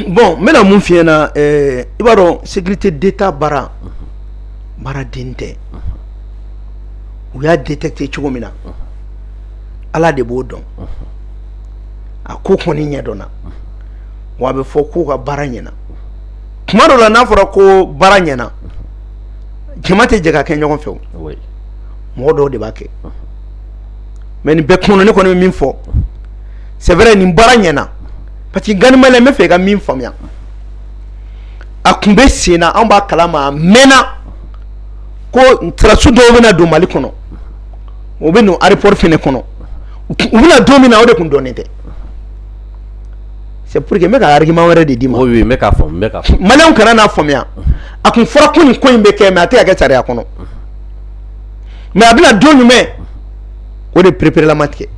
bɔn n bɛna mun f'i ɲɛna i b'a dɔn sécurité d'État baara baara dennin tɛ u y'a détecter cogo min na ala de b'o dɔn a ko kɔni ɲɛdɔnna wa a bɛ fɔ k'u ka baara ɲɛna kuma dɔ la n'a fɔra ko baara ɲɛna jama tɛ jɛ k'a kɛ ɲɔgɔn fɛ mɔgɔ dɔw de b'a kɛ mais nin bɛɛ kɔnɔ ne kɔni bɛ min fɔ c'est vrai nin baara ɲɛna parce que Gani maliyɛn n bɛ fɛ i ka min faamuya a tun bɛ sen na anw b'a kalama a mɛnna ko sɔrɔdasi dɔw bɛna don mali kɔnɔ u bɛ don aéroport fɛnɛ kɔnɔ u bɛ na don min na o de tun dɔnnen tɛ c'est pour que n bɛ ka argument wɛrɛ de d'i ma oui n bɛ k'a faamu n bɛ k'a faamu maliyɛnw kana n'a faamuya a tun fɔra ko nin ko in bɛ kɛ mais a tɛ ka kɛ sariya kɔnɔ mais a bɛ na don jumɛn o de pereperela ma tigɛ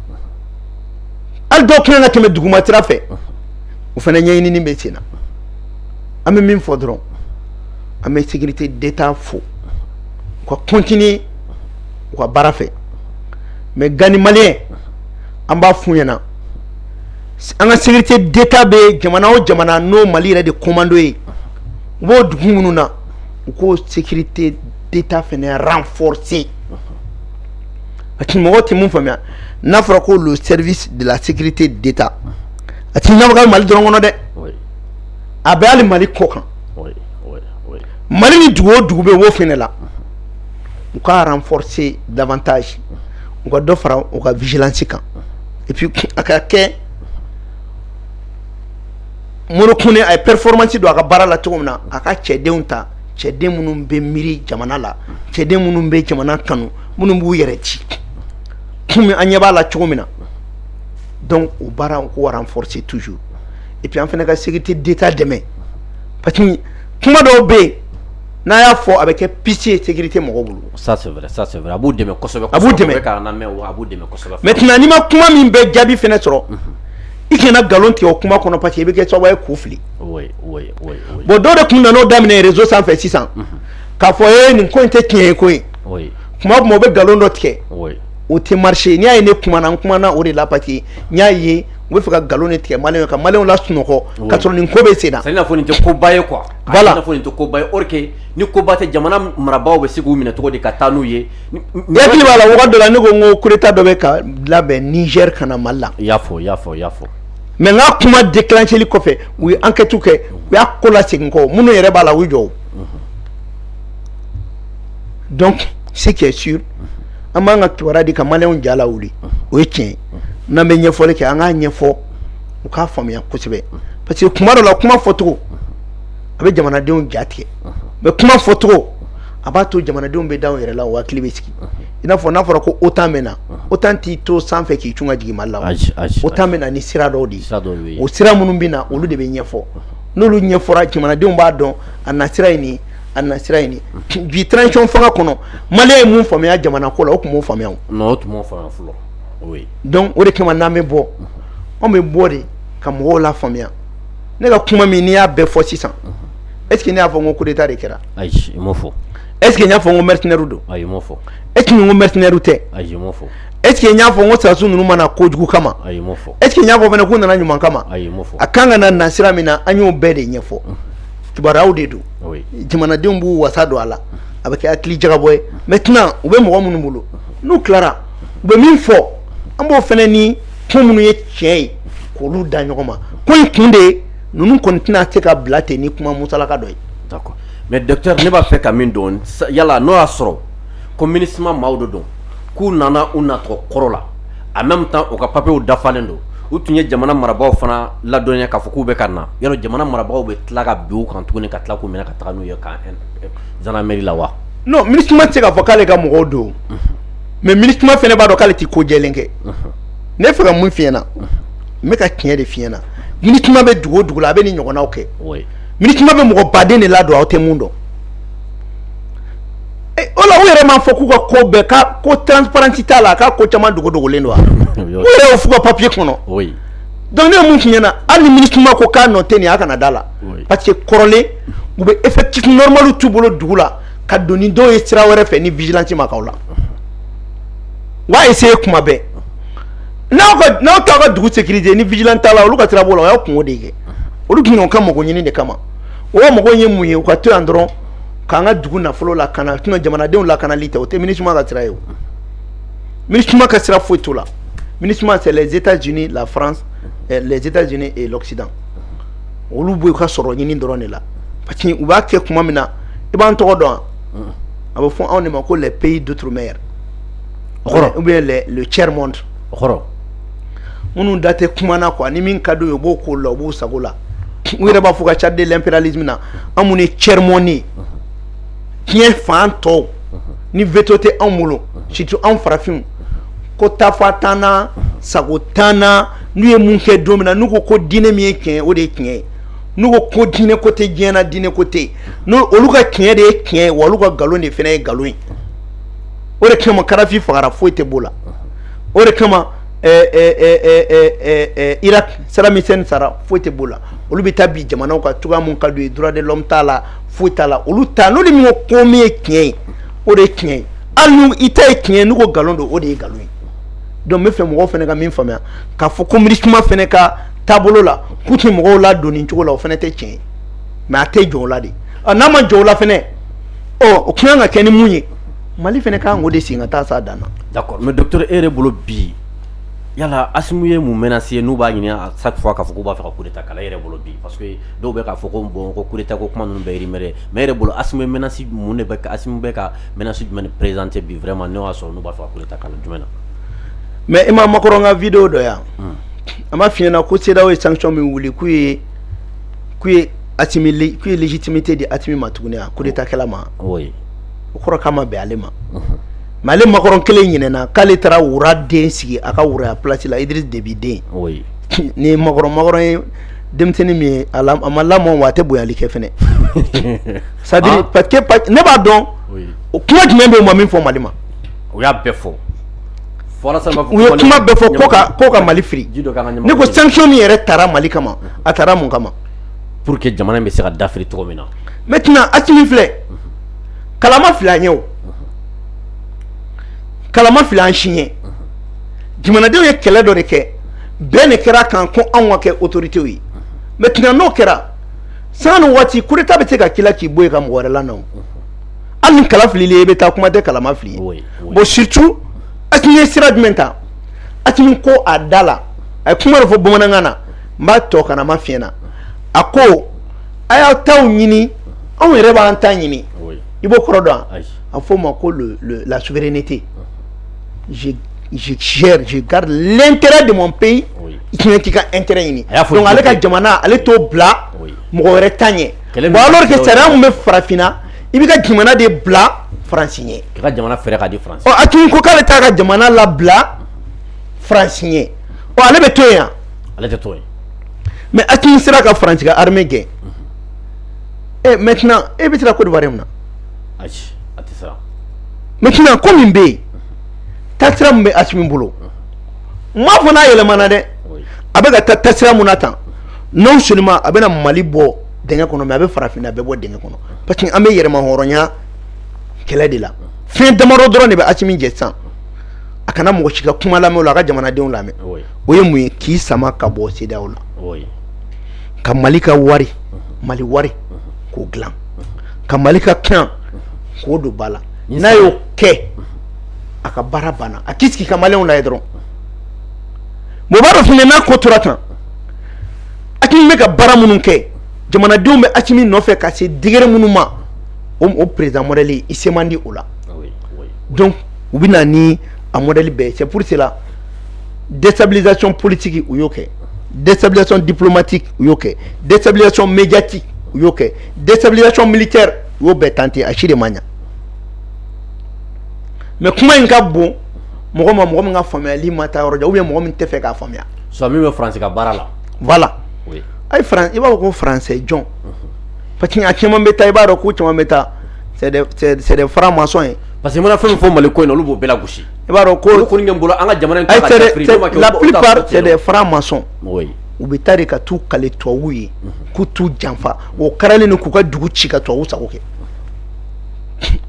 hali dɔw kɛlen ka tɛmɛ duguma sira fɛ o fana ɲɛɲini bɛ sen na an bɛ min fɔ dɔrɔn an bɛ sécurité d'État fo u ka continuer u ka baara fɛ mais Gani maliyɛn an b'a f'u ɲɛna an ka sécurité d'État bɛ jamana o jamana n'o Mali yɛrɛ de commando ye u b'o dugu minnu na u k'o sécurité d'État fana renforcer a tɛ mɔgɔ tɛ mun faamuya n'a fɔra ko le service de la sécurité d'Etat a tɛna baara kɛ Mali dɔrɔn kɔnɔ dɛ, oui, a bɛ hali Mali kɔ kan, oui, oui, oui, Mali ni dugu o dugu bɛ wo fɛnɛ la u ka renforcer davantage u ka dɔ fara u ka vigilance kan et puis a ka kɛ Modibo Kone a ye performance don a ka baara la cogo min na a ka cɛdenw ta cɛden minnu bɛ miiri jamana la cɛden minnu bɛ jamana kanu minnu b'u yɛrɛ ci komi an ɲɛ b'a la cogo min na donc o baara u k'o renforcer toujours et puis an fana ka sécurité d'état dɛmɛ parce que kuma dɔw bɛ yen n'a y'a fɔ a bɛ kɛ piste ye sécurité mɔgɔw bolo. ça c'est vrai ça c'est vrai a b'u dɛmɛ kosɛbɛ. a b'u dɛmɛ k'a lamɛn wa a b'u dɛmɛ kosɛbɛ. maintenant n'i ma kuma min bɛ jaabi fana sɔrɔ. i kana nkalon tigɛ o kuma kɔnɔ parce que i bɛ kɛ sababu ye k'u fili. oui oui oui oui. bon dɔw de tun nana o daminɛ réseau sanfɛ sisan. k'a fɔ ee nin ko in tɛ tiɲɛ ye koyi. kuma tuma u bɛ nkalon dɔ tigɛ o tɛ marcher n'i y'a ye ne kumana n kumana o de la parce que n y'a ye u bɛ fɛ ka nkalon de tigɛ maliyɛnw ka maliyɛnw lasunɔgɔ ka sɔrɔ nin ko bɛ sen na c'est n'a fɔ nin tɛ koba ye quoi voilà n'a fɔ nin tɛ koba ye or que ni koba tɛ jamana marabaa bɛ se k'u minɛ cogo di ka taa n'u ye i hakili b'a la wagati dɔ la ne ko n ko coup d'état dɔ bɛ ka labɛn Niger ka na mali la i y'a fɔ y'a fɔ y'a fɔ mais n ka kuma déclencheli kɔfɛ u ye enquête kɛ u y'a ko lasegin kɔ minnu yɛrɛ b'a la u jɔ donc ce qui est sûr an b'an ka kibaruya di ka maliyɛnw ja lawuli o ye tiɲɛ ye n'an bɛ ɲɛfɔli kɛ an k'a ɲɛfɔ u k'a faamuya kosɛbɛ parce que kuma dɔ la kuma fɔcogo a bɛ jamanadenw ja tigɛ mais kuma fɔcogo a b'a to jamanadenw bɛ da u yɛrɛ la u hakili bɛ sigi i n'a fɔ n'a fɔra ko OTAN bɛ na OTAN t'i to sanfɛ k'i cun ka jigin Mali la OTAN bɛ na ni sira dɔw de ye o sira minnu bɛ na olu de bɛ ɲɛfɔ n'olu ɲɛfɔra jamanadenw b'a dɔn a na sira ɲini a na sira ɲini bi transition fanga kɔnɔ Malien ye mun faamuya jamana ko la o tun m'o faamuya o non o tun m'o faamuya fɔlɔ oui donc o de kama n'an bɛ bɔ anw bɛ bɔ de ka mɔgɔw lafaamuya ne ka kuma min n'i y'a bɛɛ fɔ sisan est ce que ne y'a fɔ n ko coup d'état de kɛra ayi i m'o fɔ est ce que n y'a fɔ n ko mercenaires don ayi i m'o fɔ est ce que n ko mercenaires tɛ ayi i m'o fɔ est ce que n y'a fɔ n ko sɔrɔdasiw ninnu ma na kojugu kama ayi i m'o fɔ est ce que n y'a fɔ fana k'u nana ɲuman kama ayi i m'o fɔ a kan ka na sira min na an y'o bɛɛ de ɲɛfɔ kibaruyaw de don jamanadenw b'u wasa don a la a bɛ kɛ hakili jagabɔ ye maintenant u bɛ mɔgɔ minnu bolo n'u tilara u bɛ min fɔ an b'o fana ni ko minnu ye tiɲɛ ye k'olu da ɲɔgɔn ma ko in kun de ye ninnu kɔni tɛna se ka bila ten ni kuma musalaka dɔ ye mais docteur ne b'a fɛ ka min dɔn yala n'o y'a sɔrɔ ko MINUSMA maaw de don k'u nana u nacogo kɔrɔ la en même temps u ka papiyew dafalen don u tun ye jamana marabagaw fana ladɔnniya k'a fɔ k'u bɛ ka na yala jamana marabagaw bɛ tila ka bin u kan tuguni ka tila k'u minɛ ka taa n'u ye ka gendarmerie la wa non MINUSMA tɛ se k'a fɔ k'ale ka mɔgɔw don mais MINUSMA fana b'a dɔn k'ale tɛ ko jɛlen kɛ ne fɛ ka mun f'i ɲɛ na n bɛ ka tiɲɛ de f'i ɲɛ na MINUSMA bɛ dugu o dugu la a bɛ nin ɲɔgɔnnaw kɛ MINUSMA bɛ mɔgɔ baden de ladon aw tɛ mun dɔn o la u yɛrɛ m'a fɔ k'u ka ko bɛɛ ka ko transparence t'a la k'a ko caman dogodogolen don wa u yɛrɛ y'o f'u ka papiye kɔnɔ donc ne ye mun f'i ɲɛ na hali ni MINUSMA ko k'a nɔ tɛ nin ye a kana da a la parce que kɔrɔlen u bɛ effectif normal t'u bolo dugu la ka don ni dɔw ye sira wɛrɛ fɛ ni vigilance ma k'aw la u b'a essayer kuma bɛɛ n'aw t'aw ka dugu sécuriser ni vigilance t'a la olu ka sira b'o la o y'a kunko de kɛ olu tun y'u ka mago ɲini de kama o mago ye mun ye u ka to yan dɔrɔn k'an ka dugu nafolo lakana jamanadenw lakanali tɛ o tɛ MINUSMA ka sira ye o MINUSMA ka sira foyi t'o la MINUSMA c'est les états unis la france eh, les états unis et l'occident olu b'u ka sɔrɔ ɲini dɔrɔn de la parce que u b'a kɛ kuma min na i b'an tɔgɔ dɔn wa a bɛ fɔ anw de ma ko les pays d'outre mer d'accord ou bien les le tiers monde d'accord minnu da tɛ kuma na quoi ni min ka d'u ye u b'o k'o la u b'u sago la u yɛrɛ b'a fɔ ka cadre impérialisme na anw minnu ye tiers monde ye diɲɛ fan tɔw ni veto tɛ anw bolo surtout anw farafinw ko tafa t'an na sago t'an na n'u ye mun kɛ don min na n'u ko ko diinɛ min ye tiɲɛ ye o de ye tiɲɛ ye n'u ko ko diinɛ ko tɛ diɲɛ na diinɛ ko tɛ yen olu ka tiɲɛ de ye tiɲɛ ye wa olu ka nkalon de fana ye nkalon ye o de kama Kadafi fagara foyi tɛ b'o la o de kama Irak Saddam Hussein sara foyi tɛ b'o la olu bɛ taa bin jamanaw kan cogoya min ka d'u ye droit de l'homme t'a la foyi t'a la olu ta n'olu min ko min ye tiɲɛ ye o de ye tiɲɛ ye hali i ta ye tiɲɛ ye n'u ko nkalon don o de ye nkalon ye donc n b'a fɛ mɔgɔw fana ka min faamuya k'a fɔ ko MINUSMA fana ka taabolo la k'u tɛ mɔgɔw ladon nin cogo la o fana tɛ tiɲɛ ye mais a tɛ jɔ o la de n'a ma jɔ o la fana ɔ o kan ka kɛ ni mun ye Mali fana ka kan o de sen ka taa sa dan da mɛ dɔtɔ e yɛrɛ bolo bi yala a ye mun mɛn se n'u b'a ɲini a sa fɔ k'a fɔ k' b'a fɔ kota kala yɛrɛ bolo bi pa dɔw bɛ k'a fɔ ko bɔn ko koeta ko kuma ninnu bɛɛiri mɛn mɛ yɛrɛ bolo a mɛnnasi mun de bɛ ka mɛnnasi jumɛn ni perezte bi fɛ ma ne y'a sɔrɔ n' b'a fɔ kota kala jumɛn na mɛ i ma makɔrɔn ka vdo dɔ yan a ma fiyɲɛna ko seda ye sancɔn min wuli k'u ye k'u ye a k'u ye lejitimi tɛ di a ma tuguni a ko de ta kɛlɛ ma o kɔrɔ k'a ma bɛn ale ma mais ale Macron kelen ɲinɛna k'ale taara roi den sigi a ka roiya place la Idriss Déby den ni Macron ye denmisɛnnin min ye a ma lamɔ wa a tɛ bonyali kɛ fana c'est à dire parce que ne b'a dɔn o kuma jumɛn bɛ yen u ma min fɔ mali ma u y'a bɛɛ fɔ u ye kuma bɛɛ fɔ ko ka mali firi ne ko sanction min yɛrɛ taara mali kama a taara mun kama pour que jamana in bɛ se ka dafiri cogo min na maintenant Assimi filɛ kala ma fili a ye o kala ma fili an si ye jamanadenw ye kɛlɛ dɔ de kɛ bɛn kɛra a kan ko anw ka kɛ autorité ye maintenant n'o kɛra sanga ni waati coup d'état bɛ se ka k'i la k'i bɔ yen ka mɔgɔ wɛrɛ lana hali ni kala filila i ye i bɛ taa kuma tɛ kala ma fili i ye bon surtout Assimi ye sira jumɛn ta Assimi ko a da la a ye kuma dɔ fɔ bamanankan na n b'a tɔ kana ma f'i ɲɛ na a ko a y'aw taw ɲini anw yɛrɛ b'an ta ɲini i b'o kɔrɔ dɔn a fɔ o ma ko la souveraineté je je gère je garde l'intérêt de mon pays i bɛ t'i ka intérêt ɲini donc ale ka jamana ale t'o bila mɔgɔ wɛrɛ ta ɲɛ bon alors que sariya mun bɛ farafinna i b'i ka jamana de bila faransi ɲɛ k'i ka jamana fɛɛrɛ ka di faransi ɔ Assimi ko k'ale t'a ka jamana labila faransi ɲɛ ɔ ale bɛ to yen wa ale tɛ to yen mais Assimi sera ka faransi ka armée gɛn maintenant e bɛ siran Côte d'Ivoire mun na maintenant ko min bɛ yen taasira min bɛ Assimi bolo n m'a fɔ n'a yɛlɛmana dɛ a bɛ ka taa taasira min na tan non seulement a bɛna mali bɔ dingɛ kɔnɔ mais a bɛ farafinna bɛɛ bɔ dingɛ kɔnɔ parce que an bɛ yɛrɛmahɔrɔnya kɛlɛ de la fɛn damadɔ dɔrɔn de bɛ Assimi jɛ sisan a kana mɔgɔ si ka kuma lamɛn la a ka jamanadenw lamɛn o ye mun ye k'i sama ka bɔ CEDEAO la ka mali ka wari mali wari k'o dilan ka mali ka kan k'o don ba la n'a y'o kɛ a ka baara banna a k'i sigi ka maliyɛnw lajɛ dɔrɔn mais o b'a dɔn fɛnɛ n'a ko tora tan Assimi bɛ ka baara minnu kɛ jamanadenw bɛ Assimi nɔfɛ ka se degré minnu ma o o président modèle i se man di o la donc u bɛ na ni a modèle bɛɛ c'est pour cela dɛsɛsabilac politigi u y'o kɛ dɛsɛsabilac dipmati u y'o kɛ dɛsɛsabilac mɛti u y'o kɛ dɛsɛsabilac mili kɛ u y'o bɛɛ tante a si de ma ɲɛ mɛ kuma in ka bon mɔgɔ ma mɔgɔ min ka faamuyayali ma taa yɔrɔ jan u ye mɔgɔ min tɛ fɛ k'a faamuya su min bɛ fase ka baara la wala a i b'a fɔ ko faransɛ jɔn pa que a caman bɛ taa i b'a dɔn ko caman bɛ taa sɛ fara masɔn ye pa que mana fɛn fɔ mali ko in olu b'o bɛɛ gosi i b'a dɔn ko olu kɔni bolo an ka jamana la plupart francs-maçons u bɛ taa de ka t'u kale tubabuw ye k'u t'u janfa o kalelen don k'u ka dugu ci ka tubabuw sago kɛ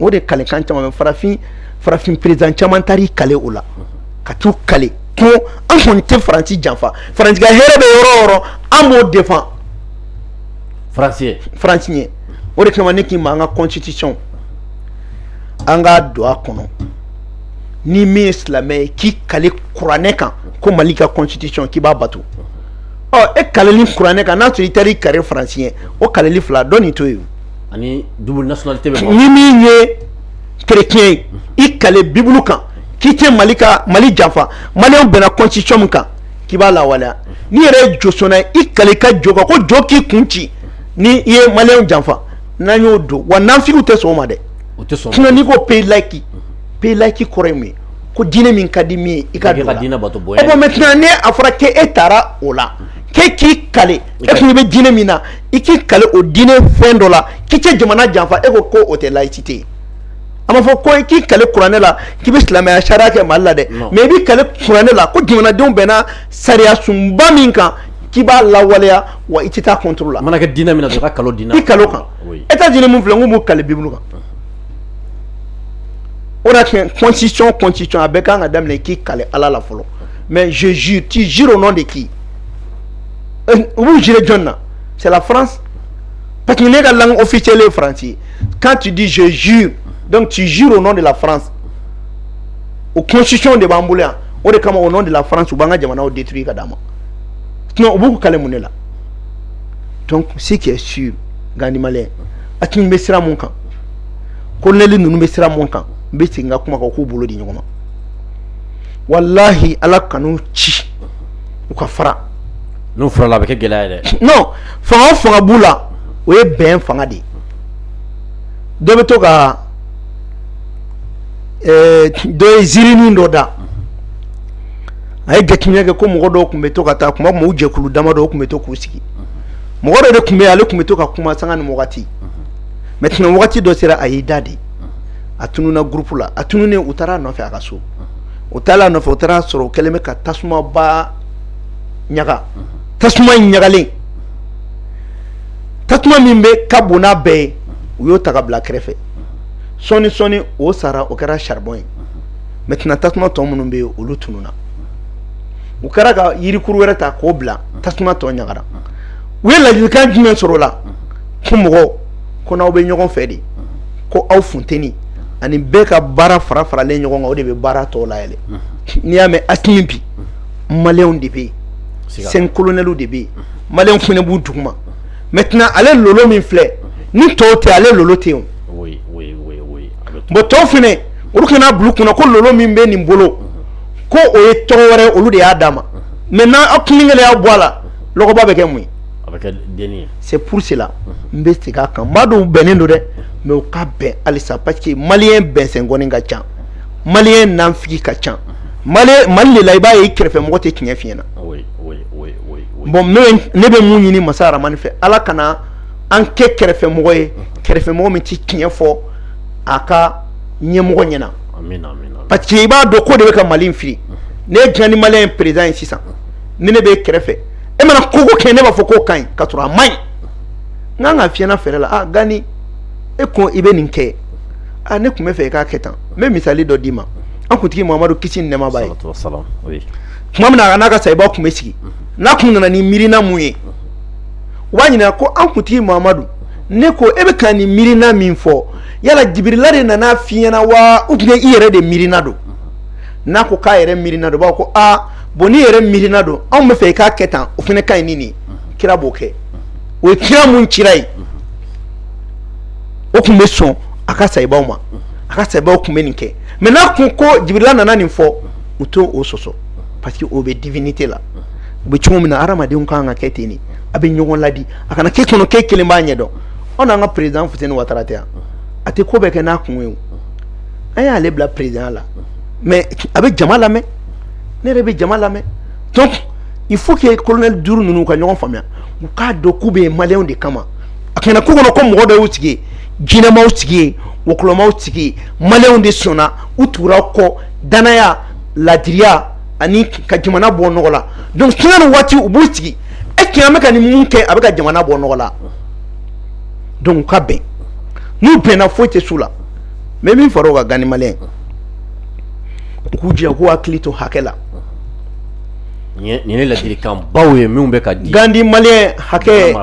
o de kalekan caman bɛ farafin président caman taara i kale o la ka t'u kale ko an kɔni tɛ faransi janfa faransi ka hɛrɛ bɛ yɔrɔ o yɔrɔ an b'o défendre faransi ye o de kama ne k'i ma an ka constitution an k'a don a kɔnɔ ni min ye silamɛ ye k'i kale kuranɛ kan ko mali ka constitution k'i b'a bato ɔ e kaleli kuranɛ kan n'a sɔrɔ i taara i kale faransi ye o kaleli fila dɔ nin to yen ani double nationalité bɛ ni min ye chrétien ye i kale bibulu kan k'i tɛ mali janfa maliyɛnw bɛnna constitution min kan k'i b'a lawaleya n'i yɛrɛ ye josɔnna ye i kale ka jo kan ko jo k'i kun ci ni i ye maliyɛnw janfa n'an y'o don wa nafigiw tɛ sɔn o ma dɛ o tɛ sɔn sinon n'i ko pays laïque pays laïque kɔrɔ ye mun ye ko diinɛ min ka di min ye i ka don o la, i ka diinɛ bato bonya, bon maintenant ni a fɔra ko e taara o la k'e k'i kale e kun bɛ diinɛ min na i k'i kale o diinɛ fɛn dɔ la k'i tɛ jamana janfa e ko ko o tɛ laïcité ye a ma fɔ ko i k'i kale kuranɛ la k'i bɛ silamɛya sariya kɛ mali la dɛ mais i b'i kale kuranɛ la ko jamanadenw bɛnna sariyasunba min kan k'i b'a lawaleya wa i tɛ taa contre la a mana kɛ diinɛ min na dɔrɔn i ka kal'o diinɛ i kal'o kan e ka joli min filɛ ko kali bi bolo kan o cɔnci c cɔnci c a bɛ kan ka daminɛ k'i kali ala la fɔlɔ mɛ zz tɛ zi o nɔ de k'i u b'u jiri jɔn na sɛla fran pa que ne ka la o fi cɛlen faransi kan tɛ di z zi dɔnkuc tɛ zi o nɔ de la fran o cɔnsiɔn de b'an bolo yan o de kama o nɔ de la fran u b'an ka jamanaw de turu i ka d' ma u b'u kali mun de la donc ce qui est sûr gandi malien asimi bɛ sira mun kan kolonɛli ninnu bɛ sira mun kan n bɛ segin ka kuma kan k'u bolo di ɲɔgɔn ma walahi ala kan'u ci u ka fara n'u farala a bɛ kɛ gɛlɛya ye dɛ non fanga o fanga b'u la o ye bɛn fanga de ye dɔ bɛ to ka ɛɛ eh, dɔ ye ziirinin dɔ da a ye jateminɛ kɛ ko mɔgɔ dɔw tun bɛ to ka taa kuma mɔgɔw jɛkulu dama dɔw tun bɛ to k'u sigi mɔgɔ dɔ de tun bɛ yen ale tun bɛ to ka kuma sanga ni wagati maintenant wagati dɔ sera a y'i da de a tununna groupe la a tununnen u taara a nɔfɛ a ka so u taara a nɔfɛ u taara sɔrɔ o kɛlen bɛ ka tasumaba ɲaga tasuma in ɲagalen tasuma min bɛ ka bon n'a bɛɛ ye u y'o ta ka bila kɛrɛfɛ sɔɔni sɔɔni o sara o kɛra saribɔn ye maintenant tasuma tɔ minnu bɛ yen olu tununna u kɛra ka yirikuru wɛrɛ ta k'o bila tasuma tɔ ɲagara u ye ladilikan jumɛn sɔrɔ o la ko mɔgɔw ko n'aw bɛ ɲɔgɔn fɛ de ko aw funteni ani bɛɛ ka baara fara faralen ɲɔgɔn kan o de bɛ baara tɔ layɛlɛ n'i y'a mɛn asimi bi maliyɛnw de bɛ yen cinq colonels de bɛ yen maliyɛnw fana b'u duguma maintenant ale lolo min filɛ ni tɔw tɛ ale lolo tɛ yen bon tɔw fana olu kana bila u kunna ko lolo min bɛ nin bolo ko o ye tɔgɔ wɛrɛ olu de y'a d'a ma maintenant n' aw kun kelen y'a bɔ a la lɔgɔba bɛ kɛ mun ye c'est pour cela n bɛ segin a kan n b'a dɔn u bɛnnen don dɛ mais u ka bɛn halisa parce que maliyɛn bɛnsɛn kɔni ka ca maliyɛn nanfigi ka ca mali de la i b'a ye i kɛrɛfɛmɔgɔ tɛ tiɲɛ f'i ɲɛna bon ne bɛ mun ɲini masa rahamani fɛ ala kana an kɛ kɛrɛfɛmɔgɔ ye kɛrɛfɛmɔgɔ min tɛ tiɲɛ fɔ a ka ɲɛmɔgɔ ɲɛna parce que i b'a dɔn k'o de bɛ ka mali in fili n'e ye gandi malien président ye sisan ni ne b'i kɛrɛfɛ e mana ko o ko kɛ ne b'a fɔ k'o ka ɲi ka sɔrɔ a man ɲi n kan ka f'i ɲɛna fɛrɛ la gandi e ko i bɛ nin kɛ ne tun bɛ fɛ i k'a kɛ tan n bɛ misali dɔ d'i ma an kuntigi mamadu kisi ni nɛɛma b'a ye tuma min na a n'a ka sayibaw tun bɛ sigi n'a kun nana ni miirina mun ye u b'a ɲininka ko an kuntigi mamadu ne ko e bɛ ka nin miirina min fɔ yala jibirila de nana f'i ɲɛna wa ou bien i yɛrɛ de miirina don n'a ko k'a yɛrɛ miirina don b'a ko aa bon n'i yɛrɛ miirina don anw bɛ fɛ i k'a kɛ tan o fana ka ɲi ni nin kira b'o kɛ o ye kira mun cira ye o tun bɛ sɔn a ka sayibaw ma a ka sayibaw tun bɛ nin kɛ mais n'a kun ko jibirila nana nin fɔ u t'o sɔsɔ parce que o bɛ divinité la u bɛ cogo min na hadamadenw kan ka kɛ ten de a bɛ ɲɔgɔn ladi a kana k'e kɔnɔ k'e kelen b'a ɲɛ dɔn anw n'an ka président Fuseni Watara tɛ yan a tɛ ko bɛɛ kɛ n'a kun ye an y'ale bila président la mais a bɛ jama lamɛn ne yɛrɛ bɛ jama lamɛn donc il faut que colonel duuru ninnu ka ɲɔgɔn faamuya u k'a dɔn k'u bɛ maliyɛnw de kama a kana k'u kɔnɔ ko mɔgɔ dɔ y'u sigi yen jinɛ m'aw sigi yen wɔkulɔ m'aw sigi yen maliyɛnw de sɔnna u tugura aw kɔ danaya laadiriya ani ka jamana bɔ nɔgɔ la donc sanga ni waati u b'u sigi est-ce que an bɛ ka nin mun kɛ a bɛ ka jamana bɔ nɔgɔ la donc u ka bɛn n'u bɛnna foyi tɛ s'u la mais min fara o kan gandi maliyɛn u k'u jija k'u hakili to hakɛ la nin ye ladilikan baw ye minnu bɛ ka di gandi maliyɛn hakɛ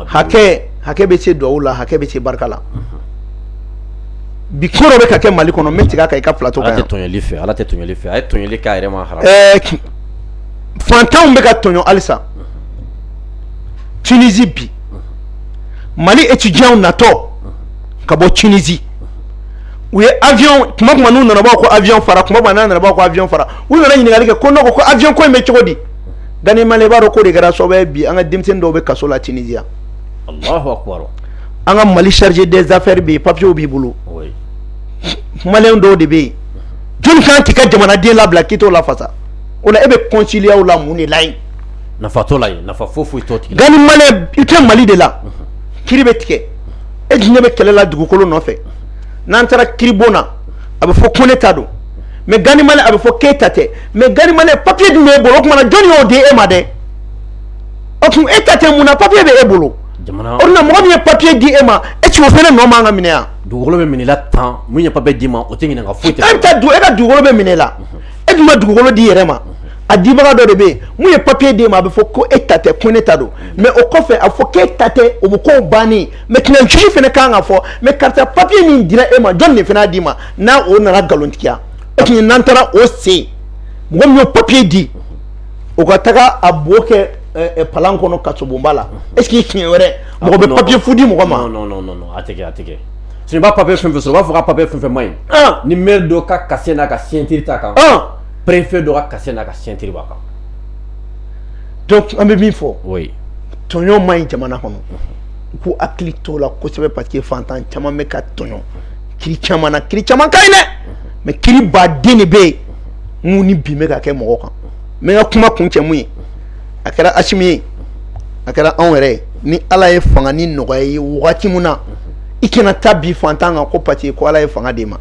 hakɛ hakɛ bɛ se dugawu la hakɛ bɛ se barika la bi ko dɔ bɛ ka kɛ mali kɔnɔ n bɛ tigɛ a kan i ka plateau fɛ ala tɛ tɔɲɔli fɛ a ye tɔɲɔli k'a yɛrɛ ma haram fantanw bɛ ka tɔɲɔ halisa Tunisie bi mali étudiantw natɔ ka bɔ Tunisie u ye avion tuma tuma n'u nana b'a fɔ ko avion fara tuma n'a nana b'a fɔ ko avion fara u mana ɲininkali kɛ ko n ko avion ko in bɛ cogo di gandi maliyɛn b'a dɔn k'o de kɛra sababu ye bi an ka denmisɛnnin dɔw bɛ kaso la Tunisie an ka mali chargé des affaires bɛ yen papiyew b'i bolo maliyɛn dɔw de bɛ yen jɔnni kan k'i ka jamanaden labila k'i t'o lafasa o la e bɛ consulat la mun de la yen nafa t'o la yen nafa foyi foyi t'o tigi la gandi maliyɛn i tɛ mali de la kiri bɛ tigɛ e ni ne bɛ kɛlɛ la dugukolo nɔfɛ n'an taara kiribon na a bɛ fɔ ko ne ta don mais gandi maliyɛn a bɛ fɔ k'e ta tɛ mais gandi maliyɛn papiye dun b'e bolo o tuma na jɔnni y'o di e ma dɛ o tuma e ta tɛ mun na papiye bɛ e bolo mɔgɔ min ye papiye di e ma est-ce o fana nɔ man kan ka minɛ yan dugukolo bɛ minɛ tan min ye papiye d'i ma o tɛ ɲininka foyi e bɛ dugu e ka dugukolo bɛ minɛ la e dun ma dugukolo d'i yɛrɛ ma a dibaga dɔ de bɛ yen min ye papiye di e ma a bɛ fɔ ko e ta tɛ ko ne ta don mais o kɔfɛ a fɔ k'e ta tɛ o bɛ ko ban maintenant juge fana kan k'a fɔ mais karisa papiye min dira e ma jɔn fana d'i ma n'a o nana nkalontigiya e n'an taara o sen mɔgɔ min ye papiye di o ka taga a bo kɛ palan kɔnɔ kasobonba la est-ce que siɲɛ wɛrɛ mɔgɔ bɛ papiye fu di mɔgɔ ma sinon i b'a papiye fɛn fɛn sɔrɔ u b'a fɔ k'a papiye fɛn fɛn man ɲi ni maire dɔ ka cachet n'a ka signature t'a kan perepfe dɔ ka na ka sinti ba kan dɔnku an bɛ min fɔ tɔɲɔ man ɲi jamana kɔnɔ u k'u hakili t'o la kosɛbɛ parce que fantan caman bɛ ka tɔɲɔ kiri caman na kiri caman ka ɲi dɛ mais kiri ba den de bɛ yen mun ni bi bɛ ka kɛ mɔgɔ kan n bɛ n ka kuma kuncɛ min ye a kɛra asimi ye a kɛra anw yɛrɛ ye ni ala ye fanga nin nɔgɔya i ye wagati min na i kana taa bin fantan kan ko parce que ko ala ye fanga d'e ma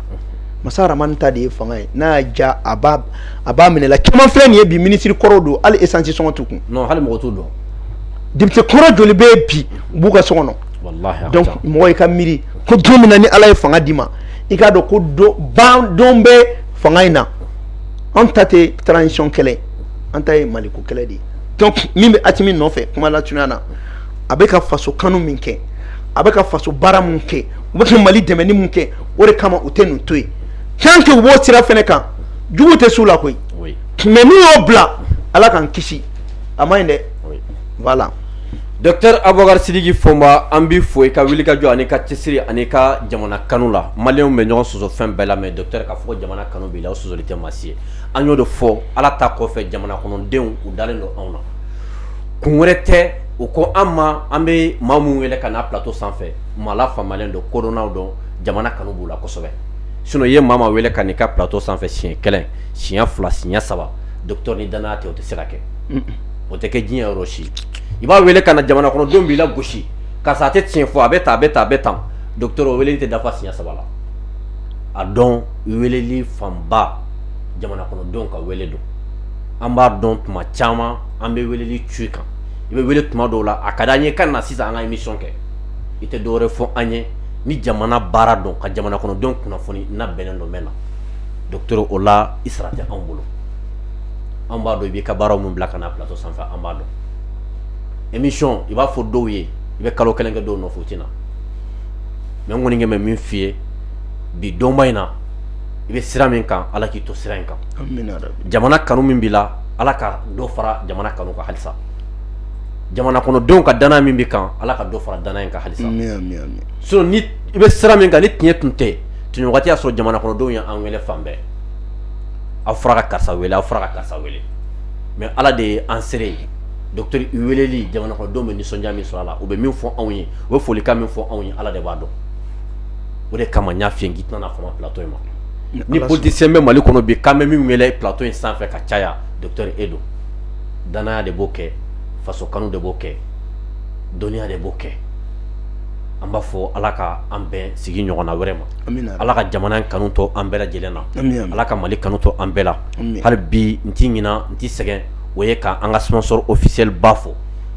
masa Rahamani ta de ye fanga ye n'a y'a ja a b'a a b'a minɛ i la caman filɛ nin ye bi minisiri kɔrɔw don hali esansi sɔngɔ t'u kun non hali mɔgɔ t'u dɔn député kɔrɔ joli bɛ yen bi u b'u ka so kɔnɔ walahi donc mɔgɔ i ka miiri ko don min na ni ala ye fanga d'i ma i k'a dɔn ko don ban don bɛ fanga in na an ta tɛ transition kɛlɛ an ta ye maliko kɛlɛ de ye donc min bɛ Asimi nɔfɛ kuma la tunya na a bɛ ka faso kanu min kɛ a bɛ ka faso baara min kɛ u bɛ ka Mali dɛmɛni min kɛ o de kama u tɛ nin to yen tant que u b'o sira fɛnɛ kan jugu tɛ s'u la koyi mais n'u y'o bila Ala k'an kisi a man ɲi dɛ. Docteur abubakari sidiki fɔnba an b'i fo i ka wulikajɔ ani ka cɛsiri ani ka jamana kanu la maliyɛnw bɛ ɲɔgɔn sɔsɔ fɛn bɛɛ la mais docteur k'a fɔ jamana kanu b'i la o sɔsɔli tɛ maa si ye an y'o de fɔ ala ta kɔfɛ jamana kɔnɔdenw u dalen don anw na kun wɛrɛ tɛ u ko an ma an bɛ maa minnu wele ka na plateau sanfɛ maa lafaamuyalenw don kodɔnnaw don jamana kanu b'u la kosɛbɛ sinon i ye maa wele ka n'i ka plateau sanfɛ siɲɛ kelen siɲɛ fila siɲɛ saba docteur ni danaya tɛ o tɛ se ka kɛ o tɛ kɛ diɲɛ yɔrɔ si i b'a wele ka na jamana kɔnɔdenw b'i lagosi ka sɔrɔ a tɛ tiɲɛ fɔ a bɛ tan a bɛ tan a bɛ tan docteur o weleli tɛ dafa siɲɛ saba la a dɔn weleli fanba jamana kɔnɔdenw ka wele don an b'a dɔn tuma caman an bɛ weleli ci kan i bɛ wele tuma dɔw la a ka di an ye i ka na sisan an ka émission kɛ i tɛ dɔwɛrɛ fɔ an ye ni jamana baara don ka jamana kɔnɔdenw kunnafoni n'a bɛnnen don n bɛ na docteur o la i sara tɛ anw bolo an b'a dɔn i b'i ka baara min bila ka na plateau sanfɛ an b'a dɔn émission i b'a fɔ dɔw ye i bɛ kalo kelen kɛ dɔw nɔfɛ u tɛ na mais n kɔni kɛ bɛ min f'i ye bi donba in na i bɛ sira min kan ala k'i to sira in kan jamana kanu min b'i la ala ka dɔ fara jamana kanu kan halisa jamana kɔnɔdenw ka danaya min b'i kan ala ka dɔ fara danaya in kan halisa sinon i bɛ sira min kan ni tiɲɛ tun tɛ waati y'a sɔrɔ jamana kɔnɔdenw ye an wele fan bɛɛ aw fɔra karisa aw fara karisa wele mais ala de ye an seere ye docteur i weleli jamanadenw bɛ nisɔndiya min sɔrɔ a la u bɛ min fɔ anw ye u bɛ folikan min fɔ anw ye ala de b'a dɔn o de kama n y'a f'i ye k'i tɛna fama plateau in ma ni politicien bɛ mali kɔnɔ bi an bɛ min wele plateau in sanfɛ ka caya docteur e don danaya de b'o kɛ faso kanu de b'o kɛ dɔnniya de b'o kɛ an b'a fɔ ala ka an bɛn sigi ɲɔgɔn wɛrɛ ma ala ka jamana in kanu to an bɛɛ lajɛlen na ala ka mali kanu to an bɛɛ la hali bi n tɛ ɲinɛ n tɛ sɛgɛn o ye ka an ka sponsor officiel ba fo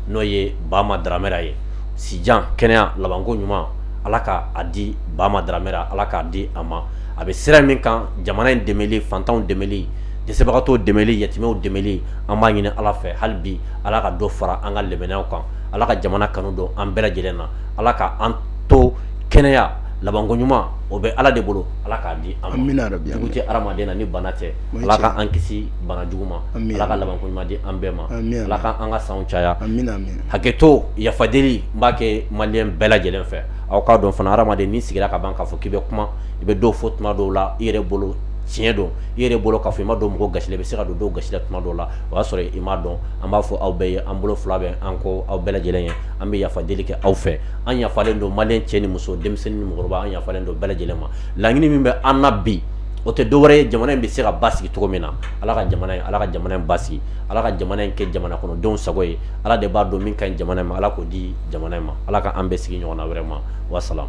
n'o ye bama dramera ye sijan kɛnɛya labanko ɲuman ala k' a di bama dramera ala k'a di a ma a bɛ sira min kan jamana in dɛmɛli fantanw dɛmɛli dɛsɛbagatɔw dɛmɛli yatimɛw dɛmɛli an b'a ɲini ala fɛ hali bi ala ka dɔ fara an ka limaniya kan ala ka jamana kanu don an bɛɛ lajɛlen na ala ka an to kɛnɛya labanko ɲuman o bɛ ala de bolo ala k'a di an ma jugu tɛ hadamaden na ni bana tɛ ala ka an kisi bana jugu ma ala ka labanko ɲuman di an bɛɛ ma ala ka an ka san caya hakɛto yafadeli n b'a kɛ maliyɛn bɛɛ lajɛlen fɛ aw k'a dɔn fana hadamaden n'i sigira ka ban k'a fɔ k'i bɛ kuma i bɛ dɔ fɔ tuma dɔw la i yɛrɛ bolo tiɲɛ don i yɛrɛ bolo k'a fɔ i ma don mɔgɔ gasi la i bɛ se ka don dɔ gasi la tuma dɔw la o y'a sɔrɔ i m'a dɔn an b'a fɔ aw bɛɛ ye an bolo fila bɛ an kɔ aw bɛɛ lajɛlen ye an bɛ yafadeli kɛ aw fɛ an yafalen don maliyɛn cɛ ni muso denmisɛnnin ni mɔgɔkɔrɔba an yafalen don bɛɛ lajɛlen ma laɲini min bɛ an na bi o tɛ dɔwɛrɛ ye jamana in bɛ se ka basigi cogo min na ala ka jamana in ala ka jamana in basigi ala ka jamana in kɛ jamana kɔnɔdenw sago ye ala de b'a dɔn min ka ɲi jamana in ma ala k'o di jamana in ma ala ka an bɛn sigi ɲɔgɔnna wɛrɛ ma wasalam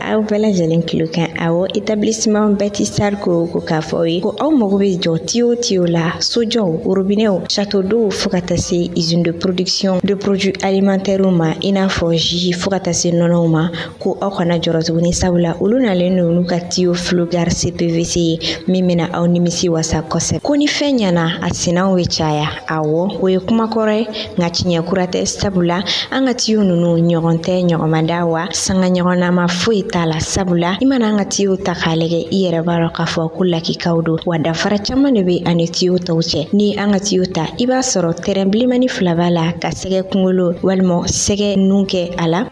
Aw bɛɛ lajɛlen kilo kan awɔ établissement Batistar ko ko k'a fɔ aw ye ko aw mago bɛ jɔ tiyo tiyo la sojɔw robinɛw château d'eauw fo ka taa se usine de production de produit alimentairew ma i n'a fɔ jus fo ka taa se nɔnɔw ma ko aw kana jɔrɔ tuguni sabula olu nalen don n'u ka tiyo FlowGuard CPVC ye min bɛna aw nimisi wasa kosɛbɛ ko ni fɛn ɲɛna a sinaw bɛ caya Awɔ o ye kuma kɔrɔ ye nka tiɲɛ kura tɛ sabula an ka tiyo ninnu ɲɔgɔn tɛ ɲɔgɔnma da wa sanga ɲɔgɔn na ma foyi t'a la sabula i mana an ka tiyo ta k'a lajɛ i yɛrɛ b'a dɔn k'a fɔ ko lakikaw don wa danfara caman de bɛ a ni tiyo tɔw cɛ ni an ka tiyo ta i b'a sɔrɔ tɛrɛn bilenmani fila b'a la ka sɛgɛ kunkolo walima sɛgɛ nun kɛ a la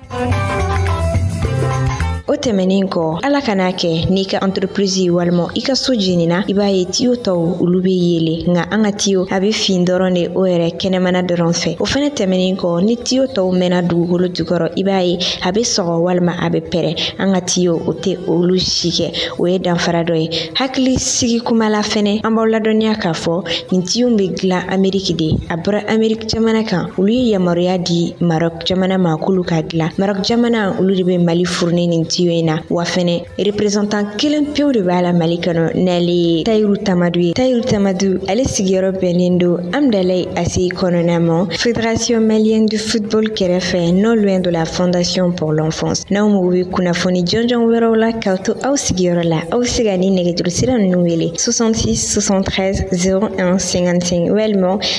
o tɛmɛnen kɔ ala kan'a kɛ n'i ka anterepirizi walima i ka so jenina i b'a ye tiyo tɔw olu be yele nka an ka tiyo a be fin dɔrɔn de o yɛrɛ kɛnɛmana dɔrɔn fɛ o fɛnɛ tɛmɛnen kɔ ni tiyo tɔw mɛnna dugukolo jukɔrɔ i b'a ye a be sɔgɔ walima a be pɛrɛn an ka tiyo o tɛ olu si kɛ o ye danfara dɔ ye hakili sigi kuma la fɛnɛ an b'aw ladɔnniya k'a fɔ nin tiyo be dilan ameriki de a bɔra ameriki jamana kan olu ye yamaruya di Maroc jamana ma k'olu k'a dilan Maroc jamana olu de bɛ Mali fourni nin tiyo in na wa fɛnɛ représentant kelen pewu de b'a la Mali kɔnɔ n'ale ye Tayiru Tamadu ye Tayiru Tamadu ale sigiyɔrɔ bɛnnen don Amdalayi ACI kɔnɔna ma Fédération malienne du football kɛrɛfɛ non loin de la Fondation pour l'enfance n'aw mago bɛ kunnafoni jɔnjɔn wɛrɛw la k'aw to aw sigiyɔrɔ la aw bɛ se ka nin nɛgɛjuru sira ninnu wele 66 73 01 55 walima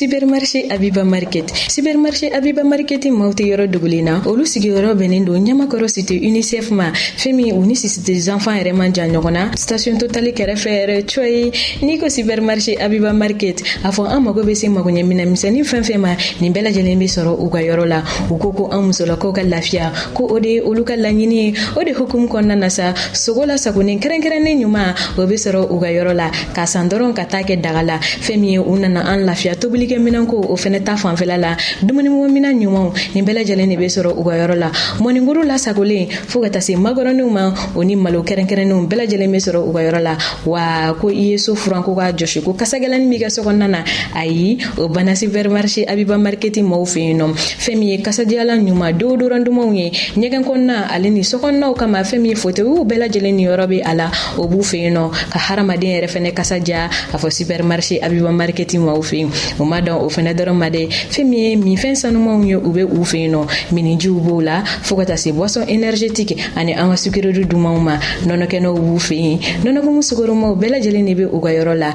Supermarché Abiba Market. Supermarché Abiba Market maaw tɛ yɔrɔ dogolen na. Olu sigiyɔrɔ bɛnnen don Ɲamakɔrɔ cité UNICEF ma. Fɛn min u ni Cité des enfants yɛrɛ man jan ɲɔgɔn na. Station Total kɛrɛfɛ yɛrɛ coyi. N'i ko Supermarché Abiba Market, a fɔ an mago bɛ se magoɲɛ minɛn misɛnnin fɛn fɛn ma, nin bɛɛ lajɛlen bɛ sɔrɔ u ka yɔrɔ la. U ko ko an musolakaw ka lafiya, ko o de ye olu ka laɲini ye. O de hukumu kɔnɔna na sa, sogo lasagolen kɛrɛnkɛrɛnnen ɲuman, o bɛ sɔrɔ u ka yɔrɔ la. ka san dɔrɔn ka taa kɛ daga la fɛn min ye u nana an lafiya tobilikɛ minɛnko o fɛnɛ ta fanfɛla la dumuni mago minɛn ɲumanw nin bɛɛ lajɛlen de be sɔrɔ u ka yɔrɔ la mɔninguru lasagolen fɔɔ ka taa se makɔrɔniw ma o ni malo kɛrɛnkɛrɛnnenw bɛɛ lajɛlen be sɔrɔ u ka yɔrɔ la wa ko i ye so furan ko k'a jɔsi ko kasagɛlɛnin b'i ka so kɔnɔna na ayi o banna supermarché abiba market maaw fɛ yen nɔ fɛn min ye kasadiyalan ɲuman déodorant dumanw ye ɲɛgɛn kɔnɔna ale ni sokɔnɔnaw kama fɛn min ye fotewiw bɛɛ lajɛlen niyɔrɔ be a la o b'u fɛ yen nɔ ka hadamaden yɛrɛ fɛnɛ kasa diya a fɔ supermarché abiba market maaw fɛ yen o ma dan o fɛnɛ dɔrɔn ma dɛ fɛn min ye minfɛn sanumanw ye u bɛ u fɛ yen nɔ minnijiw b'o la fɔɔ ka taa se boisson énergétique ani an ka sucrerie dumanw ma nɔnɔkɛnɛw b'u fɛ yen nɔnɔkumu sukaromaw bɛɛ lajɛlen de bɛ u ka yɔrɔ la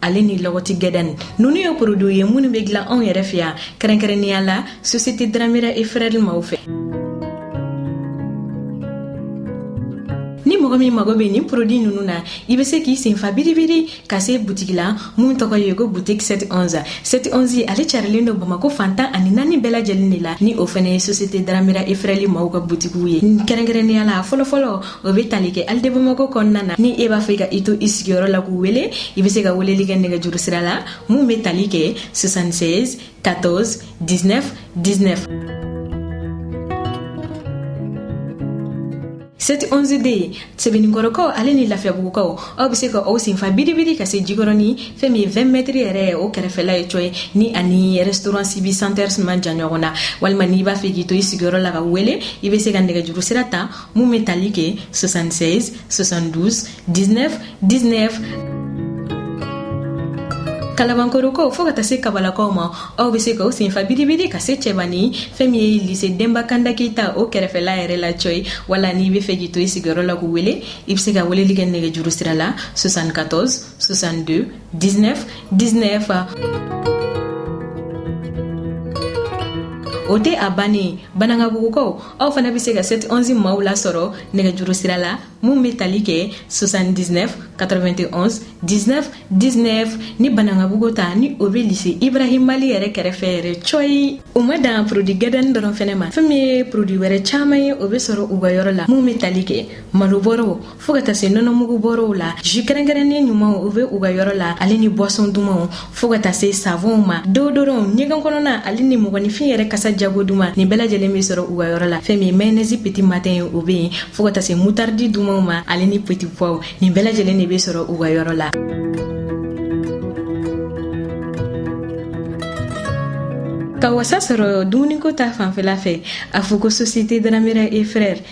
ale ni lɔgɔti gadani ninnu ye produitw ye minnu bɛ dilan anw yɛrɛ fɛ yan kɛrɛnkɛrɛnnenya la société dramera et frères maaw fɛ ni mɔgɔ min mago bɛ nin produit ninnu na i bɛ se k'i senfa biribiri ka se butigi la mun tɔgɔ ye ko boutique 711 711 ale carilen don bamako fantan ani naani bɛɛ lajɛlen de la ni o fɛnɛ ye société dramera et frères maaw ka butigiw ye kɛrɛnkɛrɛnnenya la fɔlɔfɔlɔ o bɛ tali kɛ halles de bamako kɔnɔna na ni e b'a fɛ ka i to i sigiyɔrɔ la k'u wele i bɛ se ka weleli kɛ nɛgɛjuru sira la mun bɛ tali kɛ 76 14 19 19 711 de ye sebeninkɔrɔkaw ale ni lafiyabugukaw aw bɛ se ka aw senfa biribiri ka se jikɔrɔni fɛn min ye 20 mɛtiri yɛrɛ ye o kɛrɛfɛla ye cɔyi ni a ni restaurant sibi centers man jan ɲɔgɔn na walima n'i b'a fɛ k'i to i sigiyɔrɔ la k'u wele i bɛ se ka nɛgɛjuru sira ta Mun bɛ tali kɛ 76 72 19 19 Kalabankorokaw fo ka taa se kabalakaw ma aw bɛ se ka aw senfa biribiri ka se cɛbani fɛn min ye lise denba kanda keyita o kɛrɛfɛla yɛrɛ la cɔyi wala n'i b'a fɛ k'i to i sigiyɔrɔ la k'u wele i bɛ se ka weleli kɛ nɛgɛjuru sira la 74 62 19 19 o tɛ a bannen banankabugukaw aw fana bɛ se ka 7 11 maaw lasɔrɔ nɛgɛjuru sira la mun bɛ tali kɛ 79 91 19 19 ni banankabugu ta ni o bɛ lise ibrahima ly yɛrɛ kɛrɛfɛ yɛrɛ cɔyi o ma dan produit gadani dɔrɔn fɛnɛ ma fɛn min ye produit wɛrɛ caman ye o bɛ sɔrɔ u ka yɔrɔ la mun bɛ tali kɛ malobɔrɔw fo ka taa se nɔnɔmugu bɔrɔw la ju kɛrɛnkɛrɛnnen ɲumanw u be u ka yɔrɔ la ale ni buwasɔn dumanw fo ka taa se savɔnw ma deodorɔnw ɲɛgɛn kɔnɔna ale ni mɔgɔninfin yɛrɛ kasa jago duman nin bɛɛ lajɛlen be sɔrɔ u ka yɔrɔ la fɛn min ye mayonɛzi peti matɛn ye o be yen fo ka taa se mutardi dumanw ma ale ni peti puwaw nin bɛɛ lajɛlen de be sɔrɔ u ka yɔrɔ la ka wasa sɔrɔ dumuniko ta fanfɛla fɛ a fɔ ko sosiyete daramera e frɛr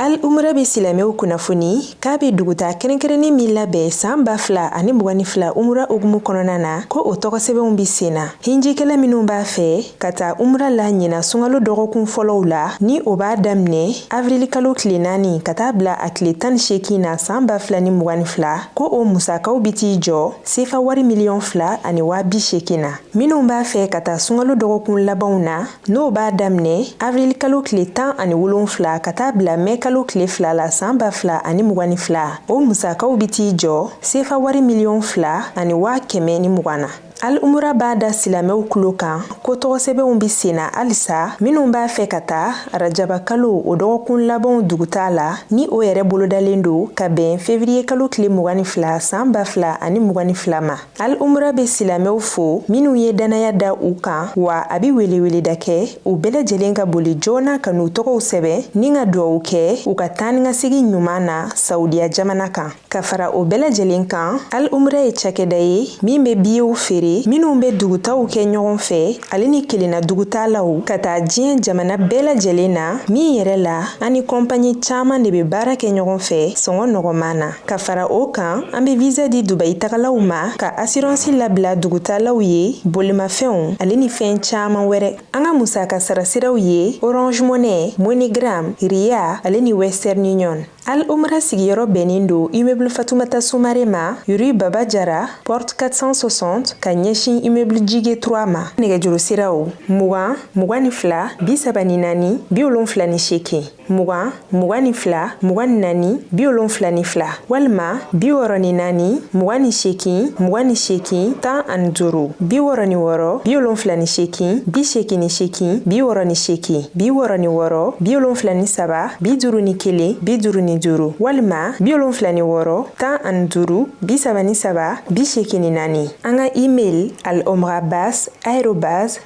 al umura be silamɛw kunnafoni k'a be dugutaa kɛrɛnkɛrɛnnin min labɛn saan ba fila ani mugan ni fila umura hukumu kɔnɔna na ko o tɔgɔsɛbɛnw be sen na hinjikɛla minw b'a fɛ ka taa umura la ɲina sungalo dɔgɔkun fɔlɔw la ni o b'a daminɛ avirilikalo tile naani ka taa bila a tile tan ni seekin na saan ba fila ni mugan ni fila ko o musakaw be t'i jɔ sefa wari miliyɔn fila ani waa bi seekin na minw b'a fɛ ka taa sungalo dɔgɔkun labanw na N'o b'a daminɛ avril kalo tile tan ani wolonfila ka taa bila mɛ kalo tile fila la san ba fila ani mugan ni fila o musakaw bɛ t'i jɔ sefa wari miliyɔn fila ani waa kɛmɛ ni mugan na al umura b'a da silamɛw kulo kan ko tɔgɔsɛbɛnw bɛ sen na halisa minnu b'a fɛ ka taa arajaba kalo o dɔgɔkun labanw dugutaa la ni o yɛrɛ bolodalen don ka bɛn fevriye kalo tile mugan ni fila san ba fila ani mugan ni fila ma Al umra bɛ silamɛw fo minnu ye dannaya da u kan wa a bɛ weleweleda kɛ u bɛɛ lajɛlen ka boli joona ka n'u tɔgɔw sɛbɛn ni ka dugawu kɛ u ka taanikasegin ɲuman na saudiya jamana kan ka fara o bɛɛ lajɛlen kan al umra ye cakɛda ye min bɛ biyew feere minnu bɛ dugutaw kɛ ɲɔgɔn fɛ ale ni kelenna dugutaalaw ka taa diɲɛ jamana bɛɛ lajɛlen na min yɛrɛ la an ni kɔnpanyi caman de bɛ baara kɛ ɲɔgɔn fɛ sɔngɔ nɔgɔman na Ka fara o kan an bɛ visa di Dubayi tagalaw ma ka assurance labila dugutaalaw ye bolimafɛnw ale ni fɛn caman wɛrɛ. An ka musaka sara siraw ye Orange Money, MoneyGram, Ria ale ni Western Union. Al Umra sigiyɔrɔ bɛnnen don immeuble Fatoumata Soumare ma, rue Baba Diarra, porte 460, ka ɲɛsin immeuble Djigue 3 ma. Nɛgɛjuru siraw, mugan, mugan ni fila, bi saba ni naani, bi wolonfila ni seegin. mugan mugan ni fila mugan ni naani bi wolonfila ni fila walima bi wɔrɔ ni naani mugan ni sekin mugan ni sekin tan ani duuru bi wɔrɔ ni wɔrɔ bi wolonfila ni sekin bi sekin ni sekin bi wɔrɔ ni sekin bi wɔrɔ ni wɔrɔ bi wolonfila ni saba bi duuru ni kelen bi duuru ni duuru walima bi wolonfila ni wɔrɔ tan ani duuru bi saba ni saba bi sekin ni naani an ka email al omrabas arobas